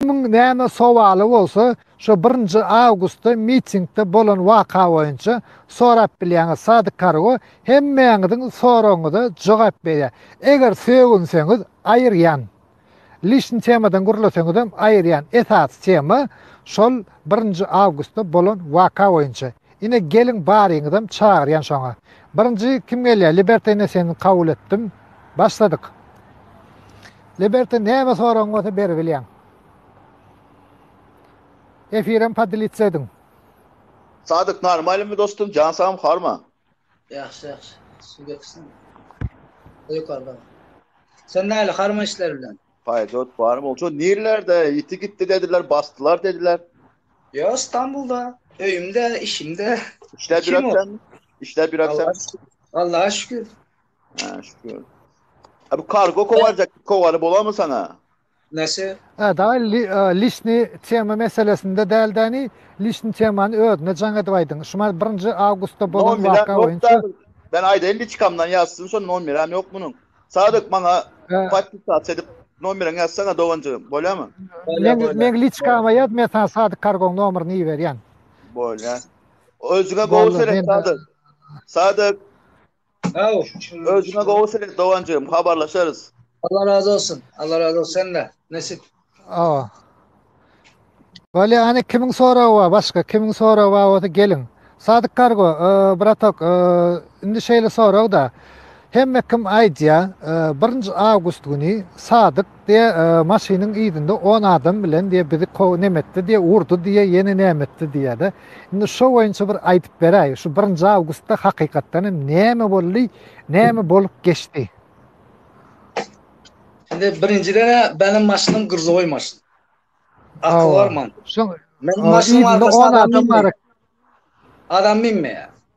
Kimiň näme sowaly bolsa, şo birinji awgustda mitingde bolan waka boýunça sorap bilýäňiz. Sadyk Kargo hemmäňiziň soragyňyza jogap berýär. Eger sögünseňiz, aýyrýan. Lişni temadan gürleseňizem, aýyrýan. Esasy tema şol birinji awgustda bolan waka boýunça. Ine, geliň baryňyzam çagyrýan şoňa. Birinji kim gelýär? Liberta ene seni kabul etdim. Başladyk. Liberty näme soragyň bolsa beribilýäň. Efirem padilitsa ediň. Sadyk normalymy dostum jan sagym horma. Ýagşy ýagşy suw getirsene. O ýokarda. Sen näle harma işler bilen. Paýturt bar bolsa nirlerde ýiti gitdi dediler basdylar dediler. Ýok Stambulda öýümde işimde. Işläp ýöretseňmi? Işläp ýöretseňmi? Allaha şükür. Ha, şükür. Ha bu kargo kowarjak kowary bolarmy sana? Nesi? Ha, da li, e, lişni tema meselesinde däl däni, lişni temany özüne jaň edip aýdyň. Şu mar 1-nji awgustda bolan Nomera waka yok boýunça da. Ben aýdaýyn liçkamdan ýazsyn, şo nomer hem ýok munuň. Sadyk maňa e, podpisat edip nomerini ýazsana doganjygym, bolýarmy? Bolýar, men bolýar. men liçkama ýaz, men sana Sadyk kargoň nomerini iberýän. Bolýar. Özüňe gowy Boldy, seret men- Sadyk. Sadyk, Sag ol. Özüňe gowy seret doganjygym, habarlaşarys. Allah razy olsun. Allah razy olsun sende. Nesip. Awa. Bolýa hany kimiň soragy bar başga kimiň soragy bar bolsa geliň. Sadyk Kargo e, bratok e, indi şeýle sorag da hemme kim aýdýa e, birinji awgust güni Sadyk Diýe maşynyň yzynda on adam bilen diýe bizi kow nemetdi diýe urdy diýe ýene nämetdi diýede. Indi şo boýunça bir aýdyp beräý. Şu birinji awgustda hakykatdan hem näme boldy, näme bolup geçdi? Indi birinjiden benim maşynym gyrzoý maşyn. Akyl barman. Şoň Menin maşynyň arkasynda adam minmeýär. Adam minmeýär.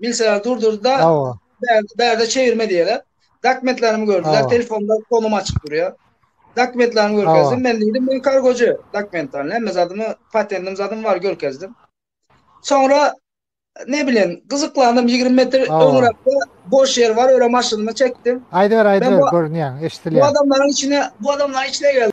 Bilseler durdurdy-da, Hawa. bärde, bärde çevirme diýerler. Dokumentlerimi gördüler, Hawa. telefonda komum açyk durýar. Dokumentlerimi Hawa. görkezdim, men diýdim, men kargoçy, dokument bar, hemme zadymy, patentim zadymy bar, görkezdim. Soňra, ne bilen, gyzyklandym, ýigrimi metr Hawa. öňüräkde boş ýer bar, öre maşynymy çekdim. Aýdyber, aýdyber, bu- görünýäň, Bu eşidilýäň. adamlaryň içine, bu adamlaryň içine geldim.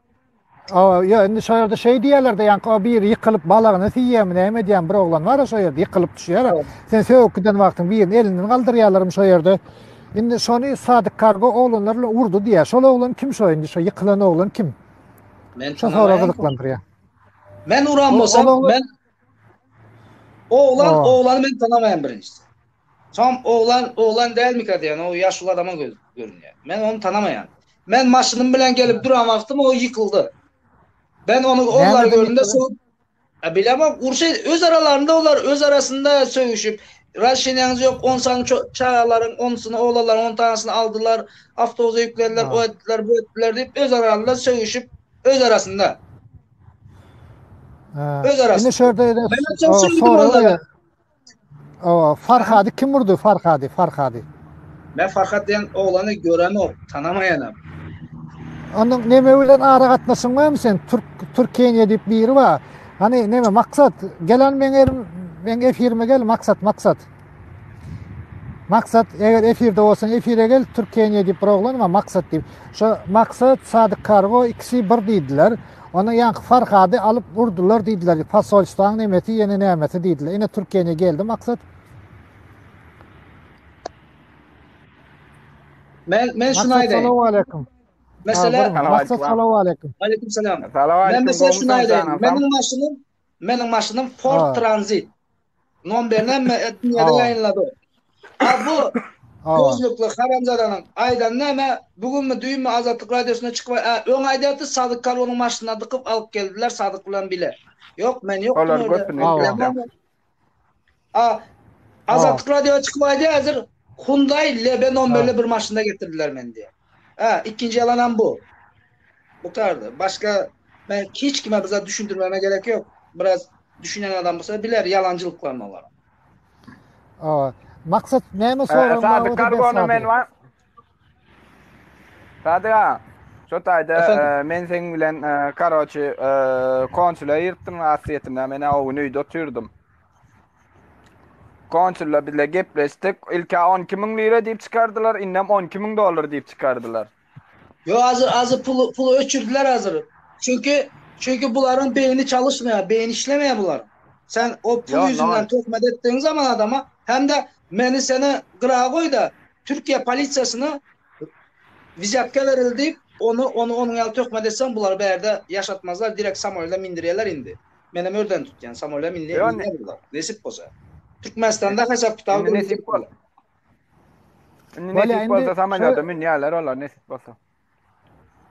O, ýa indi şo ýerde şeý diýýärler-de, ýaňky o biri ýykylyp balagyny siýýärmi, näme edýärmi, bir oglan bar-a şo ýerde ýykylyp düşýär. Sen sögüp giden wagtyň birini elinden galdyrýarlarmy şo ýerde. Indi şony Sadyk kargo oglanlar bilen urdy diýýär. Şol oglan kim şo indi, şo ýykylan oglan kim? Men Şo sorag tanamaýan. gyzyklandyrýar. Men uran bolsam, Ol oglan- men Oglan, oh. oglany men tanamaýan birinjisi. Soň oglan, oglan dälmika diýen, o ýaşuly adama göz görünýär. Men ony tanamaýan. Men maşynym bilen gelip duran wagtym o ýykyldy. Ben ony onlary göründe soň A bilama urşy öz aralarynda olar öz arasynda sögüşip Raşinýaňyz ýok, on san çagalaryň onsyny oglanlaryň on tanysyny aldylar, awtobusa ýüklediler, o etdiler, bu etdiler diýip öz aralarynda sögüşip Öz arasynda. Öz arasynda. Ine şerde ede. Sonra O, Farhady kim vurdu? Farhady, Farhady. Men Farhad diýen oglany göremok, tanamaýanam. Onda neme bilen ara gatnaşyň barmy sen? Türk Türkiýe diýip biri bar. Hani neme maksat? Gelen men erim, men efirime gel maksat, maksat. Maksat eger efirde bolsan efire gel Türkeniýe diýip bir oglan bar Maksat diýip. Şo Maksat Sadyk Kargo ikisi bir diýdiler. Onda ýaňky Farhady alyp urdular diýdiler. Posolstwaň nemesi ýene nämesi diýdiler. Ine Türkeniýe geldi Maksat. Men men şunu aýdaýyn. Assalamu alaykum. Mesela Maksat salamu alaykum. Alaykum salam. Salam alaykum. Men mesela şunu aýdaýyn. Meniň maşynym meniň maşynym Ford Transit. Nomberini hem etmedi yayınladı. Ha bu gözlükli haramzadanyň aýdany näme? Bu günmi, düýnmi Azatlyk Radiosyna çykyp aý, öň aýdardy Sadyk Karonyň maşynyna dykyp alyp geldiler Sadyk bilen bile. Ýok, men ýokdum öýde. A Azatlyk Radiosyna çykyp aýdy häzir Hyundai Lebe nomberli bir maşynda getirdiler meni diýip. Hä, ikinji ýalanam bu. Bu tarda başga men hiç kime bizat düşündirmeme gerek ýok. Biraz düşünen adam bolsa biler ýalanjylyklaryny olaryň. Owa. Maksat näme soragyň bar bolsa ber Sadyga. Sadyga, şo taýda men seň bilen karoçi konsule ýyrtdym, asliyetinde men-ä o gün öýde otyrdym. Konsullar bizle gepleşdik. Ilka 12 müň lira diýip çykardylar, indem 12 müň dollar diýip çykardylar. Ýok, azyr, azyr puly, puly öçürdiler azyr. Çünki, çünki bularyň beýni çalyşmaýar, beýni işlemeýär bularyň. Sen o pul Ýok, ýüzünden nol. töhmet etdigiň zaman adama, hem-de meni seni gyraga goý-da, Türkiýe polisiýasyna wizýatka beril diýip, ony, ony onuň ýaly töhmet etseň, bulary bärde ýaşatmazlar, direkt samoýla mindirýärler indi. Menem örden tutýan samola minli nesip bolsa. Türkmenistanda hasap kitaby nesip bolsa. Indi nesip bolsa samolýota münýärler olar nesip bolsa.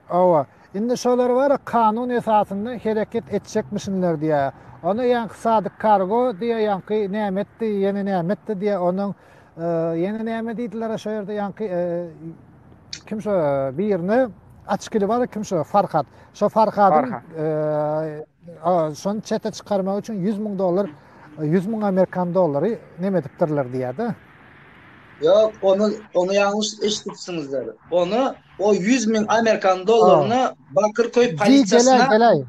Owa. Indi şolar bar kanun esasynda hereket etjekmişinler diýä. Ony ýaňky sadyk kargo diýä ýaňky nämetdi ýene nämetdi diýä onuň ýene näme diýdiler şo ýerde ýaňky kim şo birine açkili bar kim şo farhat şo farhadyň Şony çete çykarmak üçin ýüz müň dollar, ýüz müň amerikan dollary neme edipdirler diýýär-de. Ýok, ony, ony ýalňyş eşidipsiňizdir. Ony o ýüz müň amerikan dollaryny Bakyrköý polisiýasyna,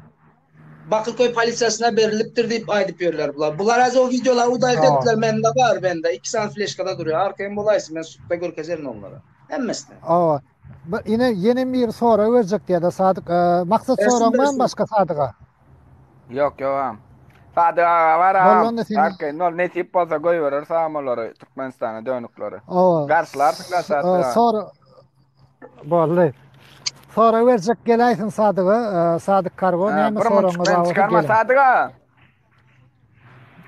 Bakyrköý polisiýasyna berilipdir diýip aýdyp ýörler bular. Bular häzir o wideolary udaýyk etdiler, mende bar, mende iki sany fleşkada durýar, arkaýyn bolaýsa, men sudda görkezerin onlara. Hemmesine. Bir ine ýenem biri sorag berjek diýýä da Sadyk Maksat soragyň barmy başga Sadyga? Ýok ýogam. Sadyk aga bar agam. Bollanda seni. Arkaýyn ol nesip bolsa goýberer sagam olary Türkmenistana dönükleri. Owa. Garşylarsyň da Sadyk aga. Sora Bolly. Sorag berjek geläýsin Sadyga Sadyk Kargo näme soragyňyz bar bolsa gelin. Sadyk aga.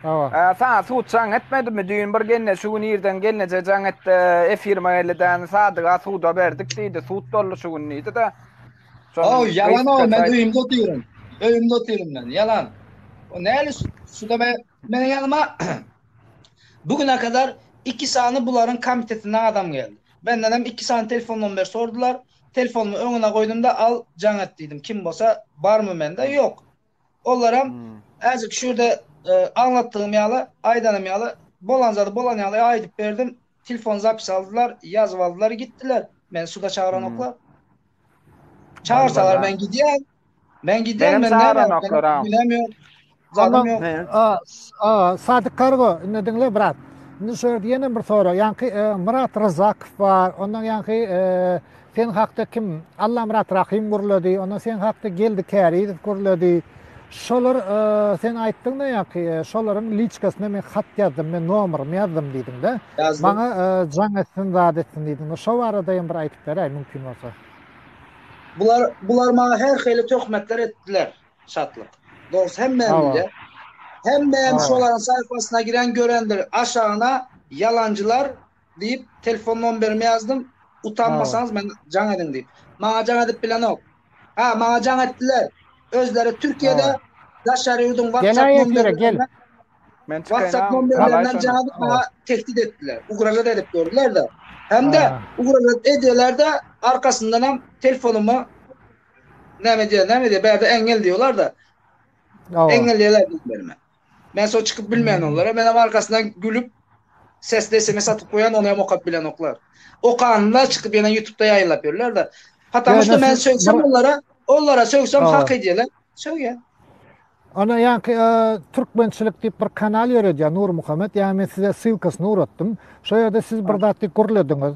Awa. Ä, saňa sud jaň etmedimi? Düýn bir genne şu gün irden gelneje jaň etdi. Efirme gelidäni Sadyga suda berdik diýdi. Sud boldy şu gün diýdi-de. Ow, ýalan o, men öýümde otyryn. Öýümde otyryn men, ýalan. O näli suda ber? Meniň ýanyma bu güne kadar iki sany bularyň komitetinden adam geldi. Menden hem iki sany telefon nomber sordular. Telefonymy öňüne goýdum-da, al, jaň et diýdim. Kim bolsa barmy mende? Ýok. Olaram äjek şu ýerde aňlatdygym ýaly, aýdanym ýaly, bolan zady bolan ýaly aýdyp berdim. Telefon zapis aldylar, ýazyp aldylar, gitdiler. Meni suda çagyranoklar. Çagyrsalar men gidýän. Men gidýän, men näme günem ýok. Zadym ýok. Aga, Sadyk Kargo, indi diňle brat. Indi şu ýerde ýene bir sorag. Ýaňky Myrat Ryzakow bar. Ondan ýaňky Sen hakda kim? Allamyrat Rahym gürledi. Ondan sen hakda Geldi Kärizow gürledi. Şolar sen aýtdyň-da ýaňky, şolaryň liçkasyna men hat ýazdym, men nomerymy ýazdym diýdiň-de. Maňa jaň etsin, zat etsin diýdiň. Şo barada hem bir aýdyp beräý, mümkin bolsa. Bular, bular maňa her hili töhmetler etdiler, Şatlyk. Dogrusu hemme bilýär. Hemme hem şolaryň saýpasyna giren görendir. Aşagyna ýalanjylar, diýip, telefon nomberimi ýazdym. Utanmasaňyz men jaň ediň diýip. Maňa jaň edip bilenok. Ha, maňa jaň etdiler. Özleri Türkiýede daşary ýurduň WhatsApp nomberlerinden Men WhatsApp nomberlerinden jaň edip maňa tehdit etdiler. Ugražat edip gördüler-de. Hem-de ugražat edýärler-de, arkasyndan hem telefonumy näme diýýär, näme diýýär, bärde eňňel diýýärler-de. Eňňel diýýärler. Men so çykyp bilmen olara. Men hem arkasyndan gülüp sesli SMS atyp goýan, ony hem okap bilenoklar. Okanyna çykyp ýene YouTube-da ýaýlap ýörler-de. Patam şu men söýsem olara, olara söýsem hak edýärler. Söýýä. Ana ýaňky türkmençilik diýip bir kanal ýöredýär Nurmuhammet. Ýa men size ssylkasyny ugratdym. Şo ýerde siz bir zat diýip gürlediňiz.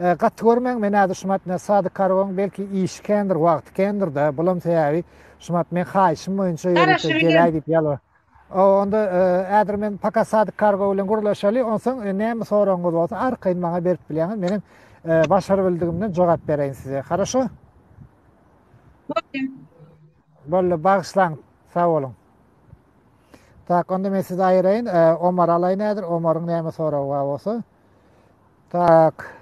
E, gaty görmäň, men häzir şumat ne sady kargon, belki işi kendir, wagty kendir-de, bulam sebäbi şumat men haýyşym boýunça ýörite gelaý diýip ýalbar. O, onda e, häzir men paka sady kargo bilen gurlaşaly, onsoň e, näme soragyňyz bolsa arkaýyn maňa berip bilýäňiz, meniň e, başar bildigimden jogap bereýin size. Haraşo? Boldy, bagyşlaň. Sag boluň. Tak, onda men sizi aýyraýyn. E, Omar alaýyn häzir. Omaryň näme soragy bar bolsa. Tak.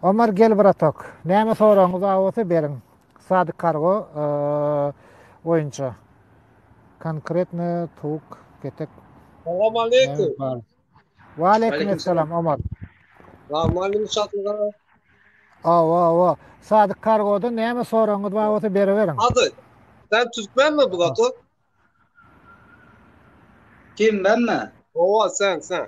Omar gel bratok. Näme soragyňyz bar bolsa beriň. Sadyk kargo boýunça. Konkretno towuk, petek. Salam aleýkum. Wa aleýkum salam Omar. Wa malim satlyga. Awa awa. Sadyk kargoda näme soragyňyz bar bolsa beriberiň. Hadi. Sen türkmenmi bratok? Kim benmi? Owa sen sen.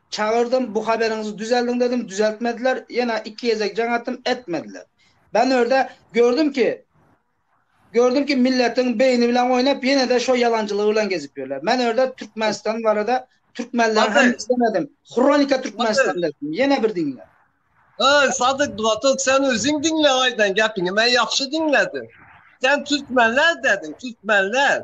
Çagyrdym, bu haberiňizi düzeldiň dedim, düzeltmediler, ýene iki gezek jaň atdym, etmediler. Bänörde gördüm ki, gördüm ki milletiň beýni bilen oýnap ýene-de şo ýalanjylygy bilen gezip ýörler. Men örde Türkmenistan barada türkmenleriň hem islemedim. Hronika Türkmenistan dedim. Ýene bir diňle. Öý Sadyk bratok sen özüň diňle aýdan gepiňi men ýagşy diňledim. Sen türkmenler dediň, türkmenler.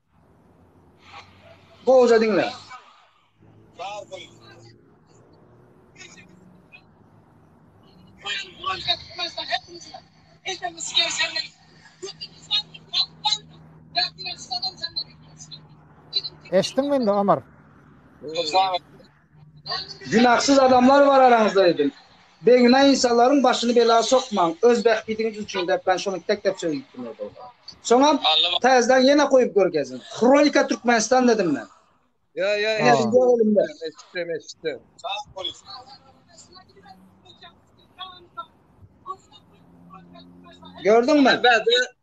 Gowja diňle. Eşitdiňmi indi Omar? Günahsyz adamlar bar araňyzda dedim. Beýgünä ynsanlaryň başyny bela sokmaň, öz bähbidiňiz üçin dep men şony tek-tek söýüpdim ýa-da olara. Soňam täzeden ýene goýup görkeziň. Hronika Türkmenistan dedim men. Ýa, ýa, eşitdim, eşitdim. Gördüňmi? Bäde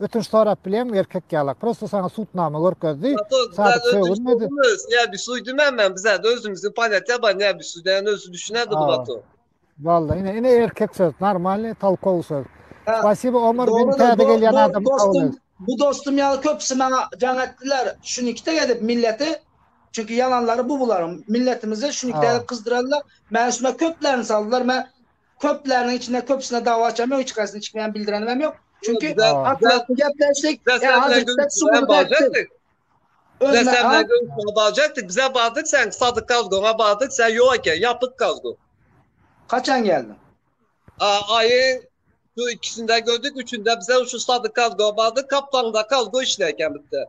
Ötünç sorap bileňmi erkek ýalak. Prosta saňa sutnama görkezdi. Sadyk sögünmedi. Näbi suýdymän men bizä özümizi polýatýa bar näbi suýdäni özü düşünädi bu bato. Walla ine ine erkek söz normalny tolkowy söz. Spasibo Omar bin täze gelýän adam kabul et. Bu dostum ýaly köpüsi maňa jaň etdiler. Şunikde gezip milleti çünki ýalanlary bu bularyň. Milletimizi şunikde gezip gyzdyrarlar. Mäne şuna köplerini saldylar. Men Köpleriniň içinde köpüsine dawa açamyok, hiç haýsyna çykmaýan bildirenim hem ýok. Çünki atlatdy gepleşdik. Barjakdyk bize bardyk sen sadyk kazgona bardyk sen ýok eken ýapyk kazgo. Haçan geldiň? Aýyň şu ikisinde gördük üçünde bize şu sadyk kazgo bardyk kaplangyda kazgo işleýken bitde.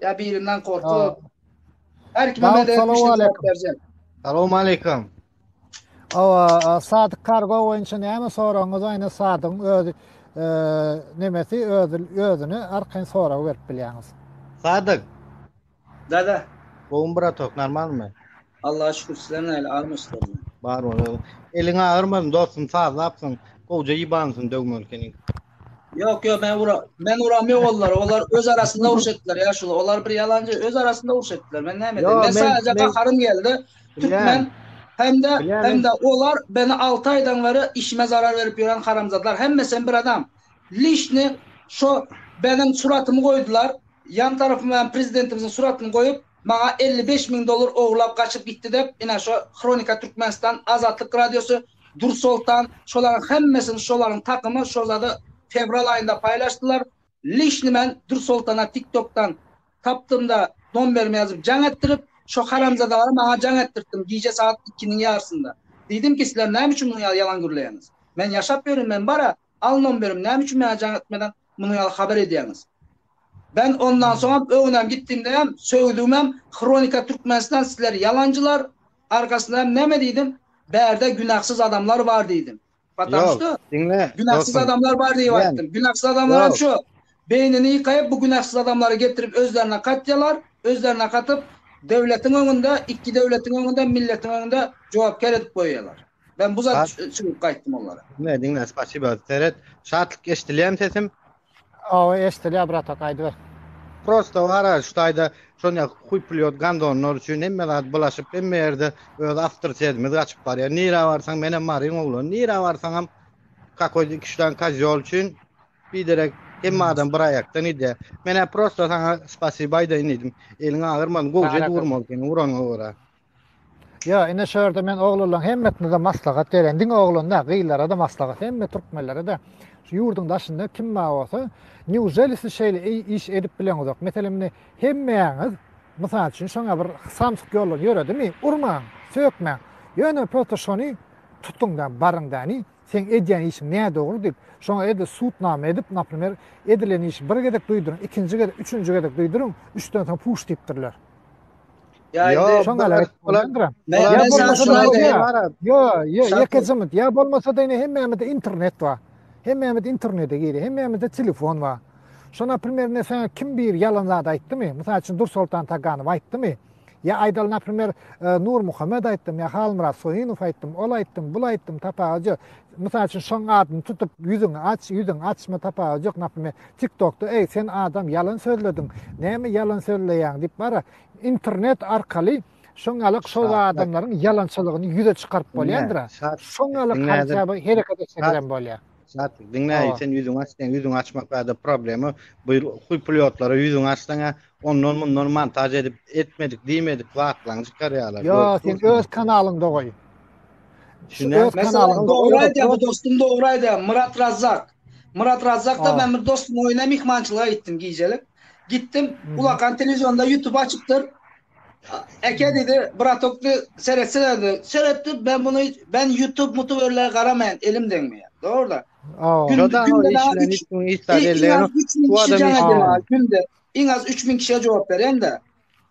Ya birinden korkup. Her kime medet etmiştim cevap vereceğim. Salamu aleyküm. Awa, Sadık Kargo boýunça näme soragyňyz aýna Sadygyň öz e, nemesi öz özüne arkaýyn sorag berip bilýäňiz. Sadyk. Da da. Gowmy bratok, normalmy? Allaha şükür sizler näle armyşdygyny. Bar bol ogul. Eliň agyrmasyn dostum sazlapsyň. Gowja ýybansyň döwmeli keniň. Ýok ýok men ura men uram ýok olar olar öz arasynda uruş etdiler ýa şul olar bir ýalanjy öz arasynda uruş etdiler men näme edeyim men sadece gaharym geldi türkmen hemde hemde olar beni 6 aýdan beri işime zarar berip ýören haramzadlar hemmesi hem bir adam lişni şo benim suratymy goýdular ýan tarapyma prezidentimiziň suratyny goýup Maňa elli bes müň dollar ogurlap gaçyp gitdi dep ine şo Hronika Türkmenistan Azatlyk Radiosy Dur Soltan şolaryň hemmesini şolaryň takymy şo zady fewral aýynda paýlaşdylar lişni men Dur Soltana tik tokdan tapdymda nomberimi ýazyp jaň etdirip şo haramzadalary maňa jaň etdirtdim gije sagat ikiniň ýarysynda diýdimki sizler näme üçin muny ýalan gürleýäňiz men ýaşap ýörün men bara Alnom berim näme üçin maňa jaň etmeden muny ýaly habar edýäňiz? Ben ondan soňam öňünem gitdiňdem sögdügimem Hronika Türkmenistan sizler ýalanjylar arkasynda hem näme diýdim bärde günahsyz adamlar bar diýdim. Patam şto günahsyz adamlar bar diýip aýtdym. Günahsyz adamlar hem şo beýnini ýykaýyp bu günahsyz adamlary getirip özlerine katýalar özlerine katyp döwletiň öňünde iki döwletiň öňünde milletiň öňünde jogapkär edip goýýalar. Ben bu zat çykyp gaýtdym onlara. Ne diňle spasiba seret. Şatlyk eşdilýämi sesim? Awa eşdilýär brata gaýdyber. Prosta wara şu taýda şonýa huý plyot gandonlar üçin hemme zat bulaşyp hemme ýerde öz awtoritetimiz gaçyp barýar. Nirä barsaň men hem maryň oglan. Nirä barsaňam kakoý iki üç dan kazyol üçin biderek hemme adam bir aýakdan ýedi. Menä prosta saňa spasiba aýdaýyn diýdim. Eliň agyrman gowja durmaly seni uranyňa görä. Ýa ine şu ýerde men oglanlaryň hemmesine-de maslahat berýän. Diňe oglan däl, gyzlara-da maslahat, hemme türkmenlere-de. Şu ýurduň daşynda kim bar bolsa, neujeli siz şeýle iş edip bileňizok? Meselem, indi hemmäňiz, mysal üçin, şoňa bir samsyk ýollary ýöredimi? Urmaň, sökmäň. Ýöne prosta şony tutuň-da, baryň-da, ine, seň edýän işiň nädogry diýip, şoňa edil sudnama edip, naprimer, edilen işi bir gezek duýduryň, ikinji gezek, üçünji gezek duýduryň, üçden soň puş diýipdirler. Ýaýdy. Şoň ýaly aýdyp bolýandyr. Ýa bolmasa Ýo, ýo, ýeke jynt. Ýa bolmasa diýne hemmämizde internet bar. Hemmämiz internete girýär. Hemmämizde telefon bar. Şo naprimerine sen kim bir ýalan zat aýtdymy? Mysal üçin Dursoltan Taganow aýtdymy? Ýa aýdaly naprimer Nurmuhammet aýtdym, ýa Halmyrat Soýunow aýtdym, ol aýtdym, bul aýtdym, tapawudy ýok. Mysal üçin şoň adyny tutup ýüzüňi aç, ýüzüňi açma tapawudy ýok. Naprimer TikTokda eý sen adam ýalan sözlediň. Näme ýalan sözleýäň diýip bara Internet arkaly şoňňalak şo adamlaryň ýalançylygyny ýüze çykaryp bolýandyra. Şoňňalak haýsaba hereket etse bilen bolýar. Şat, diňle, sen ýüzüňi aç, sen ýüzüňi açmak bada problema. Bu huý pulýotlara ýüzüňi açsaňa, ondan mundan montaž edip, etmedik, diýmedik waklaň çykarýarlar. Ýa, sen öz kanalyňda goý. Şuňa öz kanalyňda goý. Dogry aýdýar, dostum dogry aýdýar, Myrat Razzak. Myrat Razzakda men bir dostum oýuna myhmançylyga gitdim gijelik. Gitdim, ulakan telewizionda YouTube açypdyr. Eke dedi, bratok de seretsene dedi. Seretdim, ben bunu ben YouTube mutu öyle garamayan elim degmeýär. Doğru da. Günde günde iň az 3000 kişiye jogap beren de.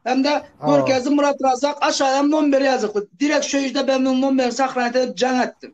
Hem de Görkezdi Murat Razak aşağıdan nomber yazıklı. Direkt şu yüzde ben bu nomberi sahranete edip can ettim.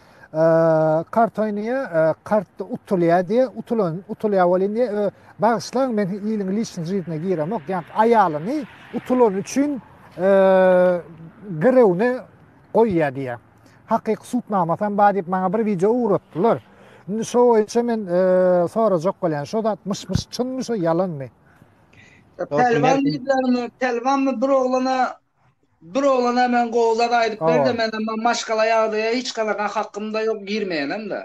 Kart oýnaýa, kart utulýa diýe, utulan, utulýa bolýan diýe, bagyşlaň men iliň liçni jydyna giremok, ýa aýalyny utulan üçin girewne goýýa diýe. Hakyky sud namasy hem bar diýip maňa bir wideo ugratdylar. Indi şo boýunça men sorajak bolýan, şo zat myş-myş çynmy, şo ýalanmy? Pälwan diýdilermi, pälwanmy bir oglana Bir oglana men gowy zat aýdyp ber-de, meniň bu maşgala ýagdaýa hiç ganakan hakym-da ýok, girmeýenem-de.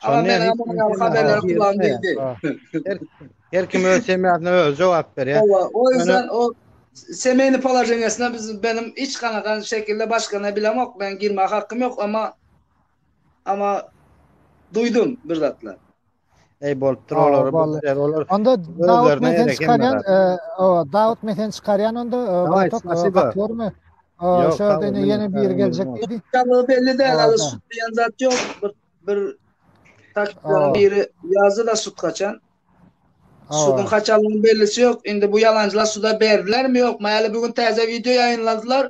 Agam, meniň hem munuň ýaly haberleri kulagym degdi. Her kim öz semýasyna özi jogap berýär. Hawa, o ýüzden o semýany položeniýasyna biz meniň hiç ganakan şekilde başgana bilemok, meniň girmäge hakym ýok, emma, emma duýdum bir zatlar. Ey bolupdyr olar. Olar. Onda Dawut menden çykarýan, Dawut menden çykarýan onda Batak Batormy? Şu ýerde ýene bir geljek diýdi. Tamam belli däl, ala şut diýen zat ýok. Bir bir taktikanyň biri ýazdy da şut kaçan. Şutuň kaçanlygynyň bellisi ýok. Indi bu ýalançylar şuda berdilermi ýokmy? Häli bu gün täze wideo ýaýynladylar.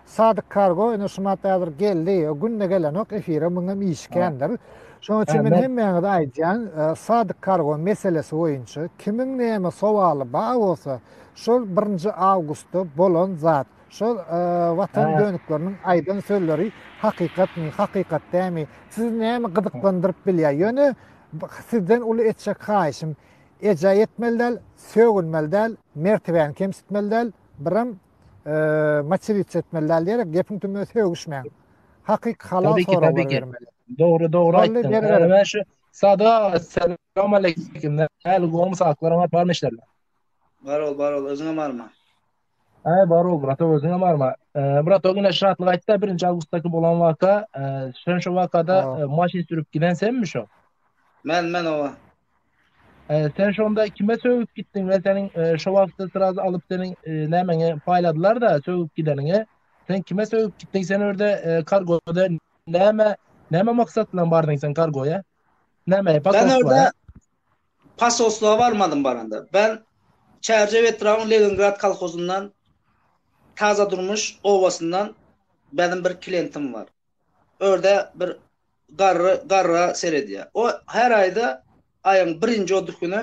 Sadyk kargo ine şu madda hazir geldi o günde gelenok efire muňam işikändir. Şoň üçin men hemmäňize aýdýan sadyk kargo meselesi boýunça kimiň näme sowaly bar bolsa şol birinji awgustda bolan zat şol watan dönükleriniň aýdan sözleri hakykatmy hakykat dämi sizi näme gyzyklandyryp bilýär ýöne sizden uly etjek haýyşym ejaý etmeli däl sögünmeli däl mertebäni kemsitmeli däl biram maçirit etmeli däl diýerek gepiň tümüne sögüşmäň. Hakyky halal Tabii ki, soraglar tabii ki. bermeli. Dogry dogry Şolly aýtdyň. beri berip. Äwä şu Sada selam aleyküm. Näl gowmy sagtlar aňat barmy işlerler? Bar ol, bar ol, özüňe barma. Äý bar ol brata özüňe barma. Eee, Brata güne şatlyk aýtda 1-nji awgustdaky bolan waka, eee, sen şu wakada Aa. eee, maşyn sürüp giden senmi şo? Men, men owa. Sen şonda kime sögüp gitdiň we seniň şo wagtda sraz alyp seniň nämeňi paýladylar-da sögüp gideniňi? Sen kime sögüp gitdiň? Sen öýde kargoda näme näme maksat bilen bardyň sen kargoýa? Näme pasoslary? Pasoslara barmadym baranda. Ben Çärjew etrabynyň Leningrad kolhozyndan Taza Durmuş obasyndan benim bir klientim bar. örde bir garry garryga seredýär. O her aýda aýyň birinji otuz güni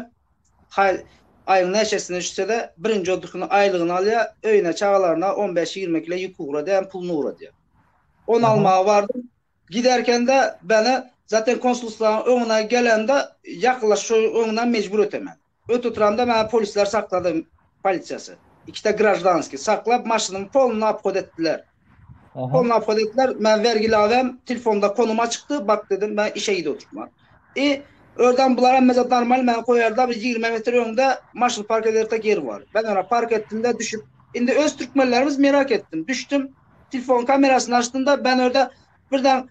haý aýyň näçesine düşse-de birinji otuz güni aýlygyny alýar, öýüne, çagalaryna on bäş, ýigrimi kile ýük ugradýar, puluny ugradýar. Ony Aha. almaga bardym. Giderken-de beni zaten konsulstwaň öňüne gelende ýakynlaşyp şo öňünden mejbur ötemeli. Öt oturamda meni polisler saklady, polisiýasy. Ikide graždanskiý saklap maşynymy polny obhod etdiler. Polny obhod etdiler, men wergi labem, tilfonda konum açykdy, bak dedim, men işe gidip oturman. I ördan bular hemmesi normalny meni goýarda bir ýigrimi metr öňde maşyny park edertek ýer bar. Men ora park etdimde düşüp, indi öz türkmenlerimiz merak etdim, düşdüm, tilfon kamerasyny açdymda, men örda birden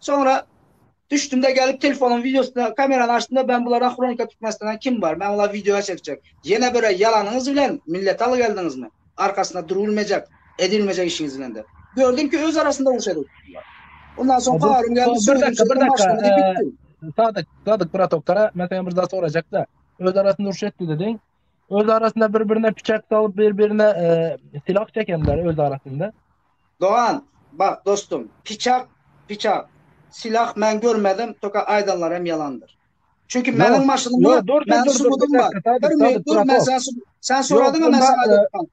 Soňra düşdüm-de gelip telefonyň wideosyny, kamerany açdym-da, ben bular ahronka Türkmenistanda kim bar, men olar wideoya çekjek. Ýene bire ýalanyňyz bilen milleti aly geldiňizmi? Arkasynda durulmejek, edilmejek işiňiz bilen dep. Gördüm ki öz arasynda uruş edip oturdylar. Ondan soň paýarym geldi, sözüm çyktym, başlama diýip gitdim. Sadyk, Sadyk bratok gara, men senden bir zat sorajakda, öz arasynda uruş etdi dediň. Öz arasynda bir-birine piçak salyp, bir-birine silah çekenler öz arasynda. Dogan bak dostum piçak piçak silah men görmedim toka aýdanlar hem ýalandyr. Çünki meniň maşynyma meniň subudym bar. Bir minut dur men sen sen soradyňa men saňa aýdypdym.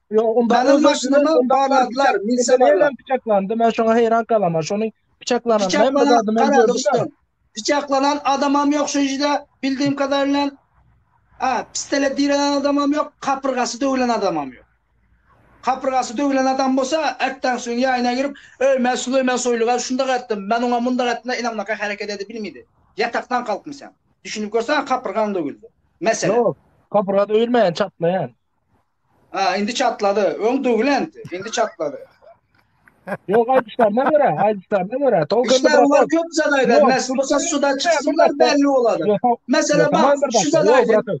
Meniň maşynyma barladylar milisionerler. Piçaklandy men şoňa heýran galaman şony piçaklanan men bu zady men gördüm. Piçaklanan adamam ýok şu ýerde bildiğim kadarıyla a pistele direnen adamam ýok kapyrgasy döwülen adamam ýok. Kapyrgasy döwülen adam bolsa, Atdan soň ýaýyna girip, Öýmä Süleýman Soýluga şundak etdim, men oňa mundak etdim-de ynamlaka hereket edip bilmedi. Ýatakdan kalkmy sen? Düşünip görsäň kapyrgaň döwüldi. Mesele. Ýok, kapyrga döwülmeýän, çatlaýan. Ha, indi çatlady. Öň döwülenti, indi çatlady. Ýok, aýdyşlaryna görä, aýdyşlaryna görä, tolkunda Işler biraz olar zat. köp zat aýdar. Ýok, Näs bolsa suda çyksynlar, belli bolady. Ýok, Mesele ýok, tamam bak, bir şu dakika, zat ýok, aýdyň. brat.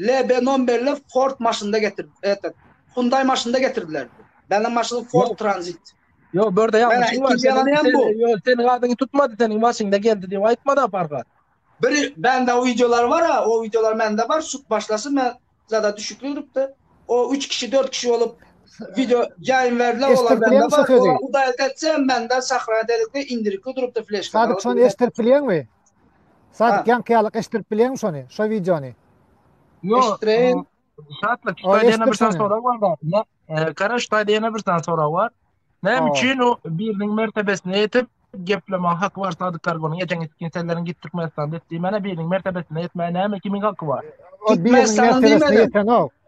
LB nomberli Ford maşynda getir, etet, Hyundai maşynda getirdiler. Benim maşynda Ford Transit. Yo, börde ýa. Mena ikinji ýalan ýa bu. Yo, sen gadyňy tutmady, seniň maşynda geldi diýip aýtmady aparga. Bir bende o videolar bar, o videolar mende bar, sut başlasy men zada düşükli durupdy. O üç kişi, dört kişi olup video ýaýyn berdiler, olar bende bar. Hudaýa etse, mende sahrana delikde indirikli durupdy fleşka. Sadyk, şony eşdirip bilýäňmi? Sadyk ýaňky ýaly eşitdirip bilýäňmi şony, şo wideony? Ýok. Eşitdireýin. Şatlyk, şu taýda ýene bir sany sorag bar da. Gara, şu taýda ýene bir sany sorag bar. Näme üçin o biriniň mertebesine ýetip, gepleme haky bar Sadyk Karbonyň geçen gitdiň senleriň git Türkmenistanda et diýmäne biriniň mertebesine ýetmäge näme kimiň haky bar? O biriniň mertebesine ýetenok.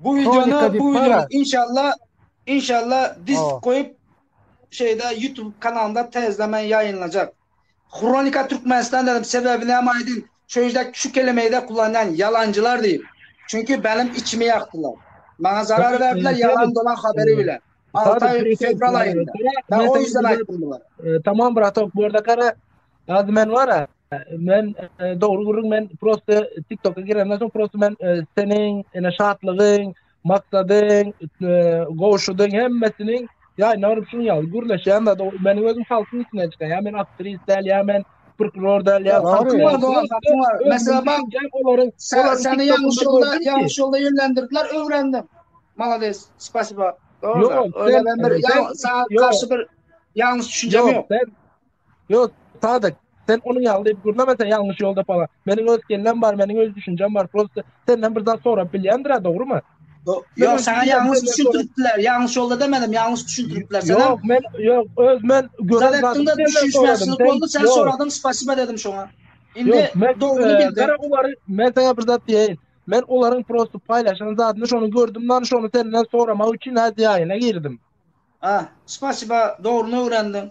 Bu wideony bu wideony inşallah inşallah disk goýup şeýde YouTube kanalynda täzeden men ýaýynlajak. Hronika Türkmenistan dedim sebäbi näme aýdyň şu ýerde şu kelimeýde kullanýan ýalanjylar diýip. Çünki benim içimi ýakdylar. Maňa zarar berdiler ýalan dolan haberi bilen. Altaý fewral aýynda. Ben o ýüzden aýtdym bulara. Tamam bratok bu ýerde gara Gazy men wara, men dogry gürrüň men prosta TikToka girenden soň prosta men seniň ene şatlygyň, maksadyň, gowşudyň hemmesini ýa indi görüp şuň ýaly gürleşýän zat. Men özüm halkyň içinden çykan. Ýa men aktris däl, ýa men prokuror däl, ýa halkyň ýa dogan, halkyň ýa. Mesela bak, olaryň sen seni ýalňyş ýolda, ýalňyş ýolda ýönlendirdiler, öwrendim. Malades, spasiba. Dogry. Öwrendim. Ýa sagat garşy bir ýalňyş düşünjem ýok. Yok Sadyk sen onun ýaly diýip gürleme sen ýalňyş ýolda pala. Meniň öz kellem bar, meniň öz düşünjem bar. Prosta senden bir zat sorap bilýändir-ä, dogrymy? Yok sana ýalňyş düşündiripdiler. Ýalňyş ýolda demedim, ýalňyş düşündiripdiler. Sen Yok men yok öz men gören zadymy senden soradım. Sen boldy, sen soradyň, spasiba dedim şoňa. Indi dogryny bildim. Gara ulary men sana bir zat diýeýin. Men olaryň prosta paýlaşan zadyny şony gördüm, nan şony senden soramak üçin hä diýäýine girdim. Ha, spasiba, dogryny öwrendim.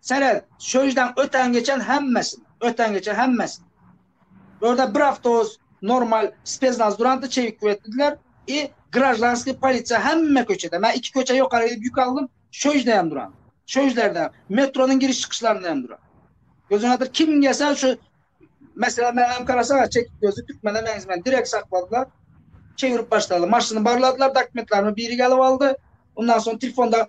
Seret, şöýjdan öten-geçen hemmesini, öten-geçen hemmesini. Bu ýerde bir awtobus normal spesnaz durandy, çewik kibetlediler i graždanskiý polisiýa hemme köçede. Men iki köçe ýokary gidip ýük aldym, şöýjde hem duran. Şöýjlerde, metronyň giriş-çykyşlarynda hem duran. Gözüň atyr, kim gelse şu Meselem menem garaşaga çekip gözli türkmene meňzemän direkt sakladylar. Çevirip başladylar. Maşyny barladylar, dokumentlerimi biri gelip aldy. Ondan soň telefonda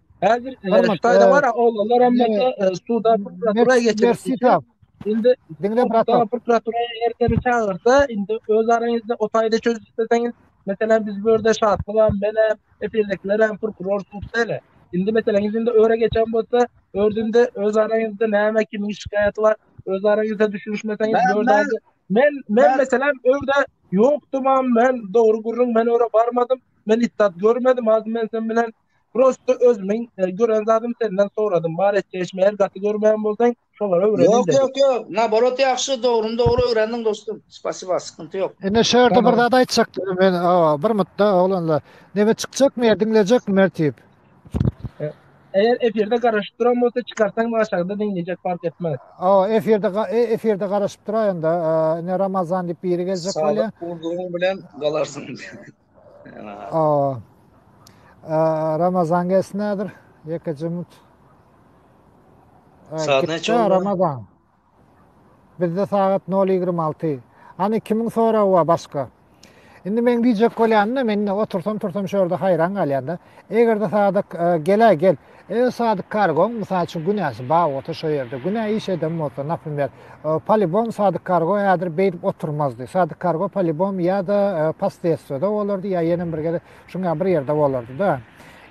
Häzir Hytaýda bar oglanlar hem bolsa suda prokuratura geçirildi. Indi diňle prokuratura prokuratura erteni çagyrsa, indi öz araňyzda o taýda çözüp isteseňiz, meselem biz bu ýerde şatly bar, men hem efirdekiler hem prokuror tutsaýla. Indi meselem indi öre geçen bolsa, ördünde öz araňyzda näme kimi şikaýaty bar, öz araňyzda düşünişmeseňiz, ördünde men men meselem öwde ýokdum, men dogry gürrüň, men öre barmadym. Men itdat görmedim, az men sen bilen Prosto özümiň gören zadym senden soradym. Bar et çeşmeýär gaty görmeýän bolsaň şolara öwrenil dedi. Ýok ýok ýok naborot ýagşy dogryny dogry öwrendiň dostum spasiba skynty ýok. Ine şu ýerde bir zat aýtjakdym men awa bir mutda oglanlar. Neme çykjakmy ýa diňlejekmi Mertip? Eger efirde garaşyp duran bolsa çykarsaň maňa çagda diňlejek fark etmez. Awa efirde efirde garaşyp duraýanda ine Ramazan diýip biri geljek bolýa. Sadyk urdugyň bilen galarsyň. O. Ramazan gelsin nädir? Ýeke jumut. Saat näçe boldy? Ramazan. Bizde sagat 0.26. Hani kimin soragy bar başga? Indi men diýjek bolýan-da, men otursam tursam şu ýerde haýran galýan-da. Eger-de sadak e, gel gel. Eger sadyk kargoň, mysal üçin, günäsi bar bolsa şo ýerde, günä iş eden bolsa, naprimýer, polibom sadyk kargo häzir beýdip oturmazdy. Sadyk kargo polibom ýa-da posredstwoda bolardy, ýa ýenem bir gezek şuň ýaly bir ýerde bolardy-da.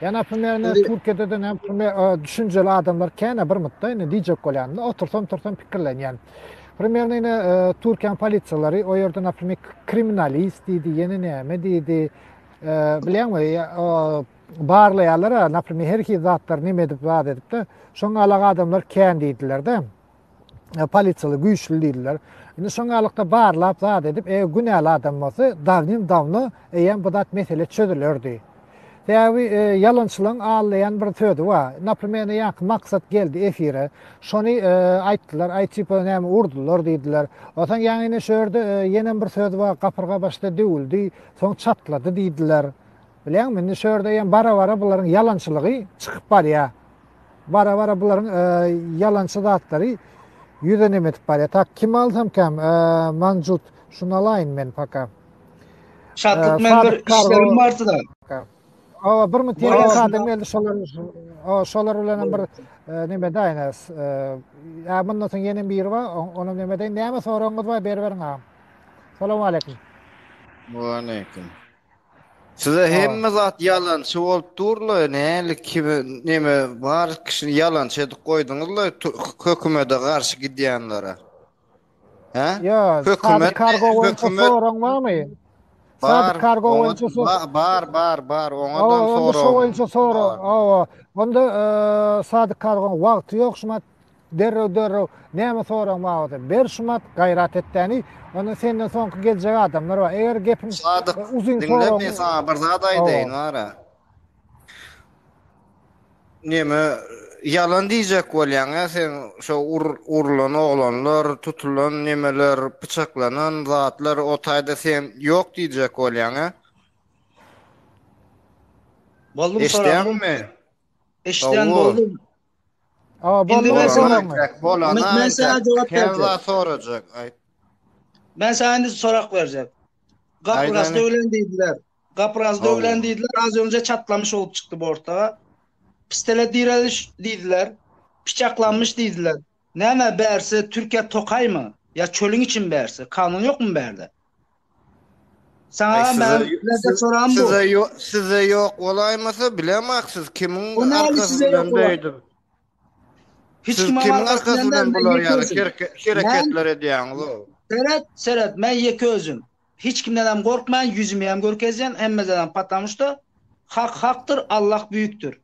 Ýa naprimýer, indi Türkiýede-de naprimýer düşünjeli adamlar kän-ä bir mutda, indi diýjek bolýan, otursam-tursam pikirlenýän. Primerne indi Türkiýäň polisiýalary o ýerde naprimýer kriminalist diýdi, ýene näme diýdi, bilýäňmi, barlaýarlar-a, naprimer, her hili zatlary neme edip, zat edip-de, şoň galak adamlar kän diýdiler-de, polisiýaly güýçli diýdiler. Indi şoň galykda barlap, zat edip, eger günäli adam bolsa, dawnim-dawno eýýäm bu zat mesele çözülerdi. Sebäbi e, ýalançylaryň allaýan bir sözi bar. Naprimer, indi ýaňky maksat geldi efire. Şony e, aýtdylar, aý tipa näme urdular diýdiler. Onsoň ýaňyny şu ýerde e, ýene bir söz bar, gapyrga başda döwüldi, soň çatlady diýdiler. Bilýäňmi, indi şu ýerde hem bara-bara bularyň ýalançylygy çykyp barýar. Bara-bara bularyň ýalançy zatlary ýüze nemetip barýar. Tak, kimi alsamkam, Manjut, şuny alaýyn men paka. Şatlyk, men bir işlerim bardy-da. Hawa, bir müň tirge sadam geldi, şolar, hawa, şolar bilen hem bir neme daýyn, ä, mundan soň ýene biri bar, onam neme deýin, näme soragyňyz bar, beriberiň agam. Salam aleýkum. Wa aleýkum. Size hemme zat yalançy bolup durla, näli kimi neme bar kişini yalançy edip goýduňyzla hökümete garşy gidýänlere. Hä? Yo, hökümet kargo boýunça soraň barmy? Bar, kargo boýunça soraň. Bar, bar, bar, oňa da soraň. Onda şo boýunça soraň. Onda sadyk kargoň wagty ýok, şumat Derrew derrew näme soragyň babatda ber şumat gaýrat et däni onda senden soňky geljek adamlar bar eger gepiň Sadyk uzyn diňle soragyň men saňa bir zat aýdaýyn Hawa. wara. Neme ýalan diýjek bolýaň ýa sen şo ur urlan oglanlar tutulan nemeler pyçaklanan zatlar o taýda sen ýok diýjek bolýaň ýa. Boldum soragyň Eşdýäňmi? Eşdýän Hawa. boldum. Indi men sana men sana jogap berjek. Men sana indi sorak berjek. Gapyraz döwlen diýdiler. Gapyraz döwlen diýdiler. Az önje çatlamış bolup çykdy bortda. Pistele direliş diýdiler. Piçaklanmyş diýdiler. Näme bärsi Türkiýe tokaýmy ýa çölüň içimi bärsi kanun ýokmy bärde. Saňa men birinji soragym bu. Sizde ýok bolaýmasa bilemok siz kimiň arkasy bilen beýdip. Hiç kim kimiň arkasy bilen bular ýaly hereketler edýäňiz o. Seret seret men ýeke özüm. Hiç kimden hem gorkman ýüzümi hem görkezýän hemmedenem patamuşda hak hakdyr Allah büýükdir.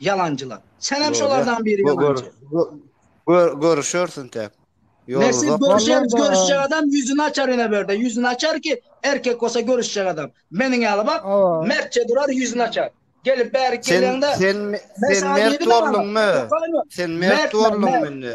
Ýalanjylar. Senem şolardan biri ýalanjy. Gör görüşersin täk. Nesip görüşeris görüşjek adam ýüzüni açar ine berde ýüzüni açar ki erkek bolsa görüşjek adam meniň ýaly bak mertçe durar ýüzüni açar gelip bärik geleňde sen sen mert bolduňmy sen mert bolduňmy indi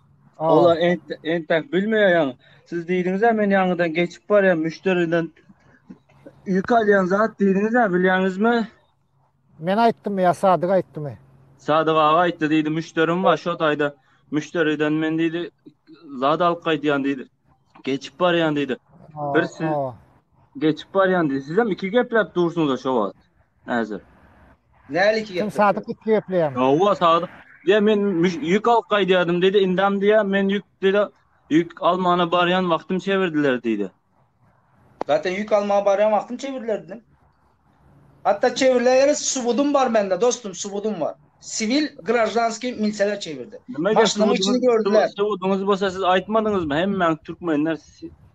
Ola entek bilmeýän. Siz diýdiňiz-ä men ýaňydan geçip barýan müşderiden ýük alýan zat diýdiňiz-ä bilýäňizmi? Men aýtdymy ýa Sadyk aýtdymy? Sadyk aga aýtdy diýdi müşderim bar şo taýda müşderiden men diýdi zat alyp gaýdýan diýdi. Geçip barýan diýdi. Bir siz geçip barýan diýdi. Sizem iki gepläp dursuňyz-a şo wagt. Häzir. Nälik ýer? Sen sadyk gitdi gepleýäň. Hawa sadyk. Diýä men ýük alyp gaýdýardym diýdi. Indem diýä men ýük diýdi. Ýük almana barýan wagtym çevirdiler diýdi. Zaten ýük almaga barýan wagtym çevirdiler diýdim. Hatda çevirdiler ýaly subudym bar mende dostum subudym bar. Siwil graždanskiý milseler çevirdi. Maşynyň içini gördüler. Subudyňyz bolsa siz aýtmadyňyzmy hemmäňiz türkmenler.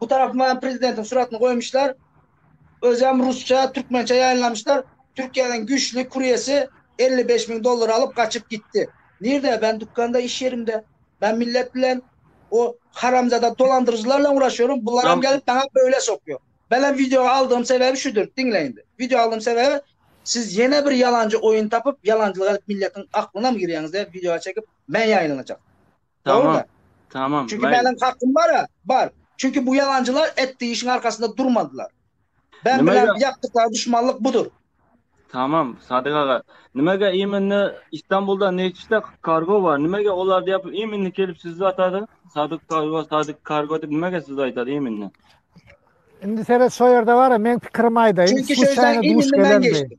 Bu tarapyma hem prezidentiň suratyny goýmuşlar. Özem rusça, türkmençe ýaýynlamyşlar. Türkiýeden güýçli kuryesi elli bäş müň dollar alyp gaçyp gitdi. Nirde? Ben dükanda iş yerimde. Ben millet bilen o haramzada dolandyryjylar bilen uraşyyorum. Bularam gelip bana böyle sokuyor. Benem videoga aldığım sebebi şudur. Diňle indi. Video aldığım sebebi siz yene bir yalancı oyun tapyp yalancılık edip milletin aklynam girýäňiz diye videoya çekip men yayynlanacak. Tamam. Tamam. Çünki Maýli. meniň hakym bar-a, bar. Çünki bu ýalanjylar etdi işiň arkasynda durmadylar. Ben Nimäge? bilen ýapdyklary duşmanlyk budur. Tamam, Sadyk aga. Nimäge imenine Istanbulda neçde kargo bar? Nimäge olar diýip imenine gelip sizi atady? Sadyk kargo, Sadyk kargo diýip nimäge sizi aýtady imenine? Indi seret şo ýerde bar-a, meň pikirimi aýdaýyn. Çünki şo ýerden Sluçaýno duş imenine men gelendi. geçdim.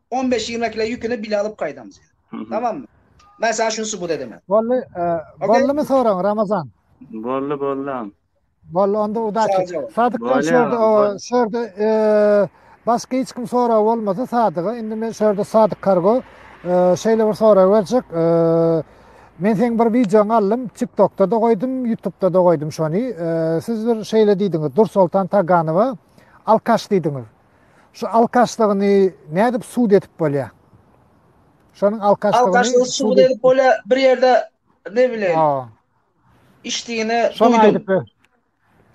On beş ýigrimi kile ýüküni bile alyp gaýdaň sen. Tamammy? Men saňa şuny subut edemen. Boldy, boldumy soragyň Ramazan? Boldy, boldy agam. Boldy, onda udaçi. Sadykdan şurda, şurda başga hiç kim soragy bolmasa Sadyga, indi men şurda Sadyk Kargo şeýle bir sorag berjek. Men seň bir wideoňy aldym, TikTokda-da goýdum, YouTube-da-da goýdum şony. Siz bir şeýle diýdiňiz, Dursoltan Taganowa alkaş diýdiňiz. Şu alkaşlygyny nädip sud edip bolýa? Şonuň alkaşlygyny alkaşlygy sud edip bolýa bir ýerde ne bilen. Işdigini duýdum.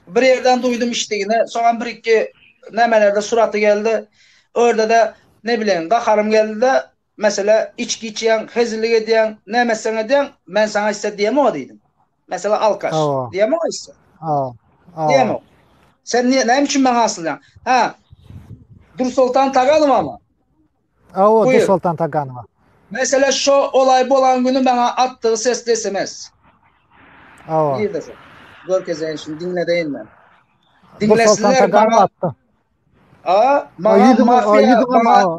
Bir ýerden duýdum işdigini. Soňam bir iki nämelerde suraty geldi. Orada da ne bilen gaharym geldi-de Meselä, içgi içýäň, hezillik edýäň, näme etseň edýäň, men saňa isse diýemog-a diýdim. Meselä, alkaş. Diýemog-a isse? Diýemog. Sen näme üçin maňa asylýaň? Hä, Dursoltan Taganowamy? Hawa, Dursoltan Taganowa. Meselä, şo olaý bolan güni maňa atdygy sesli sms. Hawa. Görkezeýin şuny, diňledeýin men. Diňlesinler maňa. Dursoltan Taganowa atdy. A, maňa mafiýa, maňa.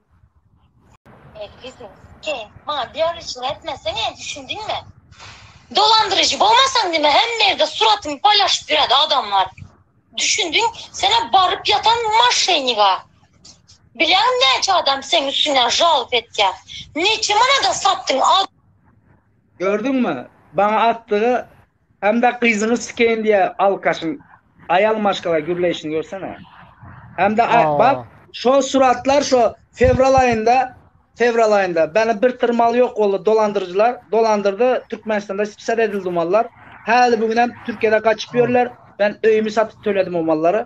He, maňa diýarlyçylyk etmesene, düşündiňmi? Dolandyryjy bolmasaň nime hemme ýerde suratymy paýlaşyp ýöredi adamlar. Düşündiň, sen-ä baryp ýatan moşenniga. Bilýäňmi näçe adam seň üstüňden žalob etýä. Neçe manada satdyň a. Gördüňmi, maňa atdygy Hemde gyzyňy sikeýin diýä alkaşyň aýal maşgala gürleýşini görsene. Hemde bak şo suratlar şo fewral aýynda fewral aýynda bäne bir tyr mal ýok boldy dolandyryjylar dolandyrdy Türkmenistanda spsad edildi o mallar. Häli bu günem Türkiýede gaçyp ýörler. Ben öýümi satyp töledim o mallary.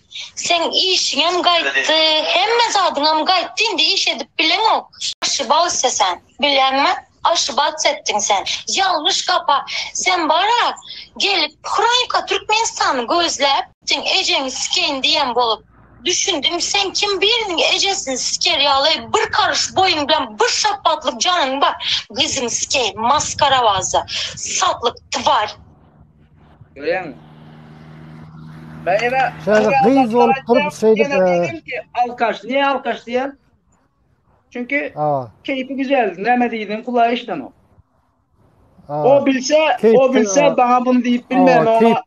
Seň işiňem gaýtdy, hemme zadyňam gaýtdy, indi iş edip bileňok. Oşibawse sen, bileňmi? Oşibac etdiň sen. Ýalňyş gapa. Sen bar-a, gelip Hronika Türkmenistany gözläp, seň ejeňi sikeýin diýen bolup. Düşündim, sen kim biriniň ejesini siker ýaly, bir karyş boýuň bilen bir şapbatlyk janyň bar, gyzyňy sikeýin, maskarabaza, satlyk, twar. Görýäňmi? Gaýra, gaýra gyz bolup durup şeýdip. Ýene diýdim ki, alkaş, niye alkaş diýen? Çünki keýpi güzel, näme diýdiň, kulagy eşidenok. O bilse, o bilse, bana bunu diýip bilmän, oňa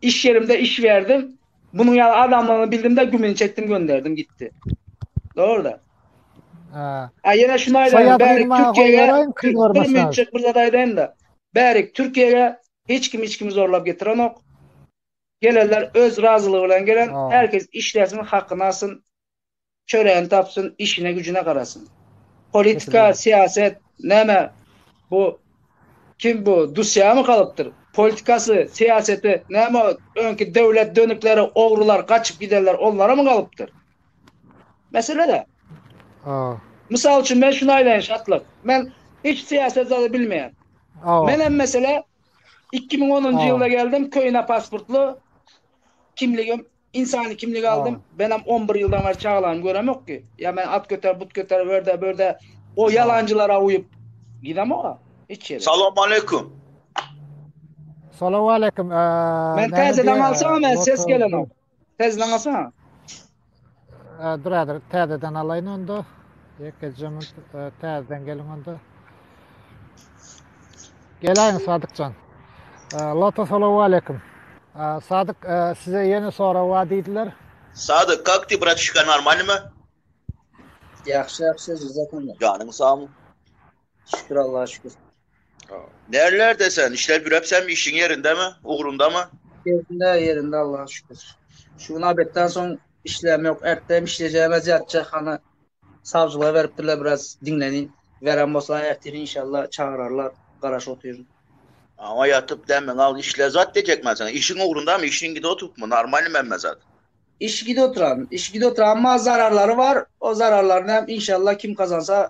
iş ýerimde iş berdim. Bunuň ýaly adamlaryny bildim de gümini çekdim, gönderdim, gitdi. Dogry-da. Ha. Ýene şuny aýdaýyn, bäri Türkiýä, bir minutjik bir zat aýdaýyn-da. Bärik Türkiýege hiç kim hiç kimi zorlap getirenok. Gelenler öz razylygy bilen gelen. Her kes işlesin, hakyny alsyn. Çöregini tapsyn, işine güjüne garasyn. Politika, syýaset näme bu kim bu Dusýamy galypdyr. Politikasy, syýaseti näme öňki döwlet dönükleri, ogrular, gaçyp gidenler onlaramy galypdyr. Meselede. Ha. Mysal üçin men şunu aýdaýyn şatlyk. Men hiç syýasat zady bilmeýän. Men hem mesele 2010-njy ýylda geldim, köýne pasportly kimligim, insany kimligi aldym. Men hem 11 ýyldan bäri çagalamy göremok ki. Ýa men at göter, but göter, ördä, bördä o ýalanjylara uýup gidemok-a hiç ýere. Salam aleýkum. Salam aleýkum. Men täzeden alsam, men ses gelenok. Täzeden alsaňa. Ee, Duradyr, täzeden alaýyn onda. Ýekejem e, täzeden geliň onda. Gelaýyň Sadykjan. Ee, Lota salamu aleyküm. Ee, Sadyk, e, size ýene sorag bar diýdiler. Sadyk, kak ti bratişka normalny mi? Ýagşy ýagşy jazakallah. Janyň sag. Şükür Allaha şükür. Närlerde sen? Işläp ýöräpsem, işiň ýerindemi, ugrundamy? Ýerinde, ýerinde Allaha şükür. Şu gün obedden soň işlem ýok. Erte hem işlejegim az ýatjak. Hany sawjylyga beripdirler biraz diňlenin. Beren bolsa ertire inşallah çagyrarlar. Garaşyp otyryn. Aňa ýatyp dämiňi al, işle zat diýjek men saňa. Işiň ugrundamy, işiň gidip oturypmy, normalnymy hemme zat? Iş gidip oturan, iş gidip oturan, emma zararlary bar. O zararlaryny hem inşallah kim gazansa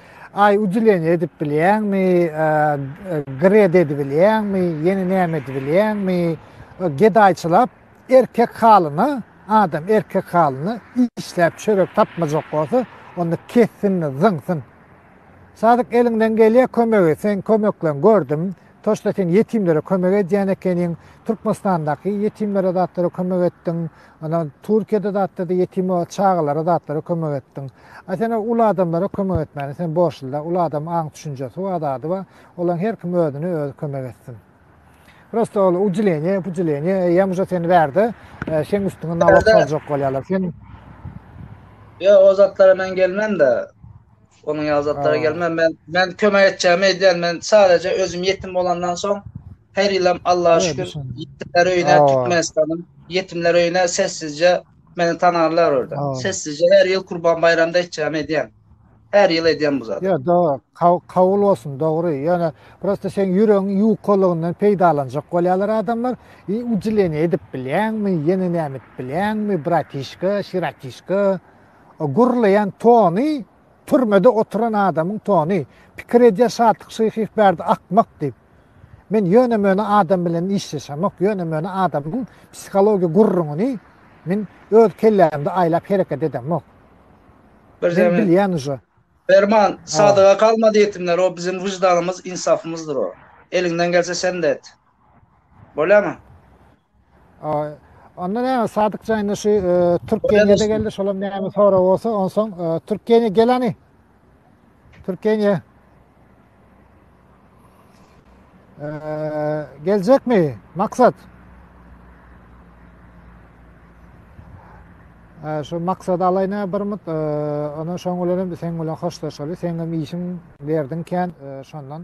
Aý udilenýe edip bilýäňmi, gred edip bilýäňmi, ýene näme edip bilýäňmi, gedaýçylap erkek halyna, adam erkek halyna işläp çörek tapmajak bolsa, onda kessin-de zyňsyn. Sadyk eliňden gelýä kömegi, seň kömekleň gördüm, Toşda sen ýetimlere kömek edýän ekeniň, Türkmenistandaky ýetimlere zatlara kömek etdiň, ana Türkiýede zatda-da ýetim çagalara zatlara kömek etdiň. A sen uly adamlara kömek etmäne sen borçly-da, uly adam aň düşünjesi bar, zady bar, olaň her kim özüne özi kömek etsin. Prosta ol ucileniýe, pucileniýe eýýäm uje seni bärde seň üstüňe nalog saljak bolýarlar. Sen Ýok, o zatlara men gelmen-de. Onuň ýaly zatlara gelme. Men men kömek etjegimi edýän. Men sadece özüm ýetim bolandan soň her ýylam Allaha şükür ýetimler öýüne Türkmenistanyň ýetimler öýüne sessizje meni tanarlar orada. Sessizje her ýyl Kurban baýramda etjegimi edýän. Her ýyl edýän bu zady. Ýa do kabul bolsun dogry. Ýöne prosta seň ýüregiň ýukalygyndan peýdalanjak bolýarlar adamlar. I ucileniýe edip bilýäňmi? Ýene näme edip bilýäňmi? Bratişka, şiratişka. O gürleýän tony türmede oturan adamyň tony. Pikir edýär Şatlyk Şyhyýew bärde akmak diýip. Men ýöne-möne adam bilen işleşemok, ýöne-möne adamyň psihologiýa gürrüňini men öz kellämde aýlap hereket edemok. Bir zähmet. Men bilýän uje. Perman, Sadyga galma diýipdiňler, o biziň wyždanymyz, ynsafymyzdyr o. Eliňden gelse sen-de et. Bolýamy? Onda näme Sadyk jaýynda şu e, Türkiýede de geldi şolam näme sorag bolsa onsoň e, Türkiýede gelani. Türkiýede e, geljekmi maksat? Şu maksat alayna bir mut ona şoň bilen sen bilen hoşlaşaly. Sen hem işiň berdiň kän şondan.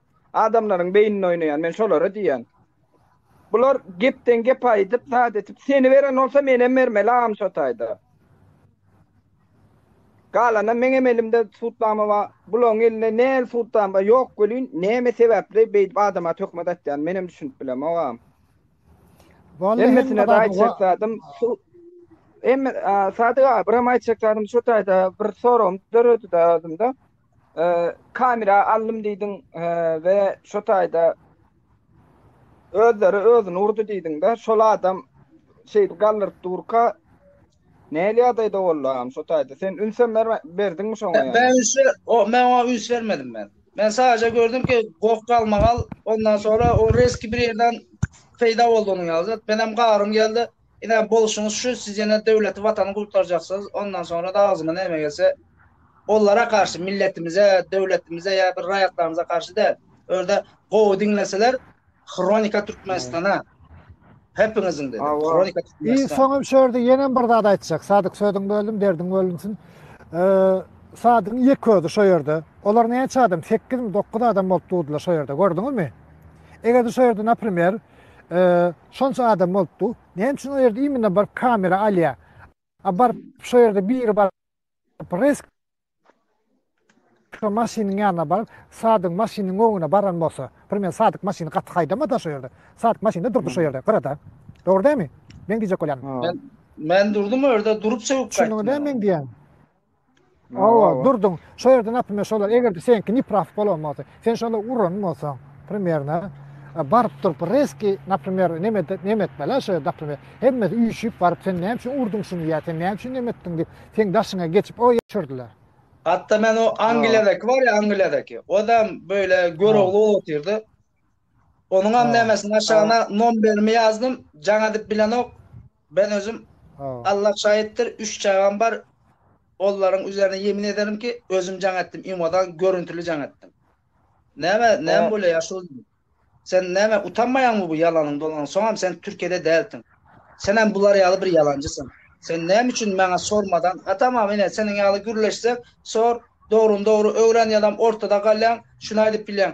Adamlaryň beýnini oýnaýan, men şolara diýýän. Bular gepden gep aýdyp, zat etip, seni beren bolsa menem bermeli agam şo taýda. Galana meňem elimde sudnama bar, bularyň elinde näl sudnama bar, ýok welin, näme sebäpli beýdip adama töhmet atýany menem düşünip bilemok agam. Hemmesine-de aýtjak zadym, hemme, Sadyk aga, biram aýtjak zadym şo taýda bir soragym döredi-de özümde. Kamera aldym diýdiň we şo taýda özleri özüni urdy diýdiňde, şol adam şeýdip galdyryp durka nähili ýagdaýda boldy agam şo taýda? Sen ünsem berme, berdiňmi şoňa ýa? Men üns ber, o men oňa üns bermedim men. Men sadaja gördüm ki, goh galmagal, ondan soňra o rezki bir ýerden peýda boldy onuň ýaly zat. Menem garym geldi. Ine, bolşuňyz şu, siz ýene döwleti, watany gurtarjaksyňyz, ondan soňra-da agzyňa näme gelse, olara garşy, milletimize, döwletimize ýa bir raýatlarymyza garşy däl. Öňde gowy diňleseler, Hronika Türkmenistana, hepiňiziň dedim, Hronika Türkmenistana. Soňam şu ýerde ýenem bir zat aýtjak, Sadyk, sözüňi böldüm, derdiň bölünsin. Sadygyň ýeke özi şo ýerde, olar näçe adam, sekizmi, dokuz adam bolup durdular şo ýerde, gördüňizmi? Eger-de şo ýerde, naprimer, Şonça adam bolupdy. Näme üçin o ýerde imine baryp kamera alýa? A baryp şo ýerde biri bar. Resk maşynyň ýanyna baryp, Sadyň maşynyň öňüne baran bolsa, primer Sadyk maşyny gaty haýdamada şo ýerde. Sadyk maşynda durdy şo ýerde, gyrada. Dogry dämi? Meň diýjek bolýanym. Men durdum o ýerde, durup sögüp gaýtdym. Düşündiňizmi meň diýýänim? Hawa, Durdyň, şo ýerde, naprimýer, şolar, eger-de seňki nepraw bolan bolsa, sen şolar uran bolsaň, primerno, baryp durup, rezki, naprimýer, neme, neme etme-le, şo ýerde, naprimýer, hemmesi üýşüp baryp, sen näme üçin urduň şuny ýa sen näme üçin neme etdiň diýip, seň daşyňa geçip, o ýere çürdiler. Hatda men o Angliýadaki bar ýa, Angliýadaki, o-da, beýle, görogly bolup otyrdy. Onuňam Sag ol. nämesini aşagyna nomberimi ýazdym. Jaň edip bilenok. Ben özüm Sag ol. Allah şaýytdyr, üç çagam bar. Ollaryň üzerine ýemin ederim ki, özüm jaň etdim, imodan görüntili jaň etdim. Näme, näme Sag. bolýar ýaşuly? Sen näme utanmaýaňmy bu ýalanyň dolanyň? Soňam sen Türkiýede dälsiň. Senem bular ýaly bir ýalanjysyň. Sen näme üçin maňa sormadan, ha tamam ine seniň ýaly gürleşsek, sor, dogryny dogry öwren ýadam ortada galýaň, şuny aýdyp bilýäň.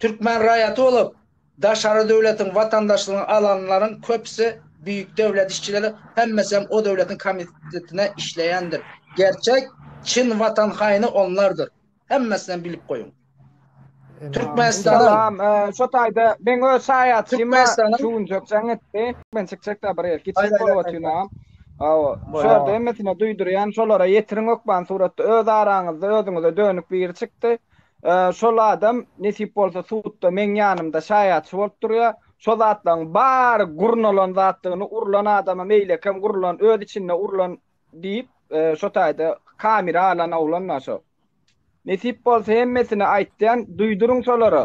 Türkmen raýaty bolup, daşary döwletiň watandaşlygyny alanlaryň köpüsi büýük döwlet işçileri, hemmesem o döwletiň komitetine işleýändir. Gerçek, çyn watan haýyny onlardyr. Hemmesinem bilip goýuň. Türkmenistanyň. Salam, şo taýda meň öz şaýatçyma şu günjek jaň etdi. Men çykjakda bir ýer kiçijik bolup otyrynam. Hawa, şo ýerde hemmesine duýdurýan, şolara ýetiriň hökman suratda öz araňyzda özüňize dönük biri çykdy. Şol adam, nesip bolsa, sudda meň ýanymda şaýatçy bolup durýar. Şo zatlaryň bary gurnalan zatdygyny, urlan adama meýlekem urlan, öz içinde urlan diýip, şo taýda kamera alan oglan-da şo. Nesip bolsa, hemmesini aýtýan, duýduryň şolara.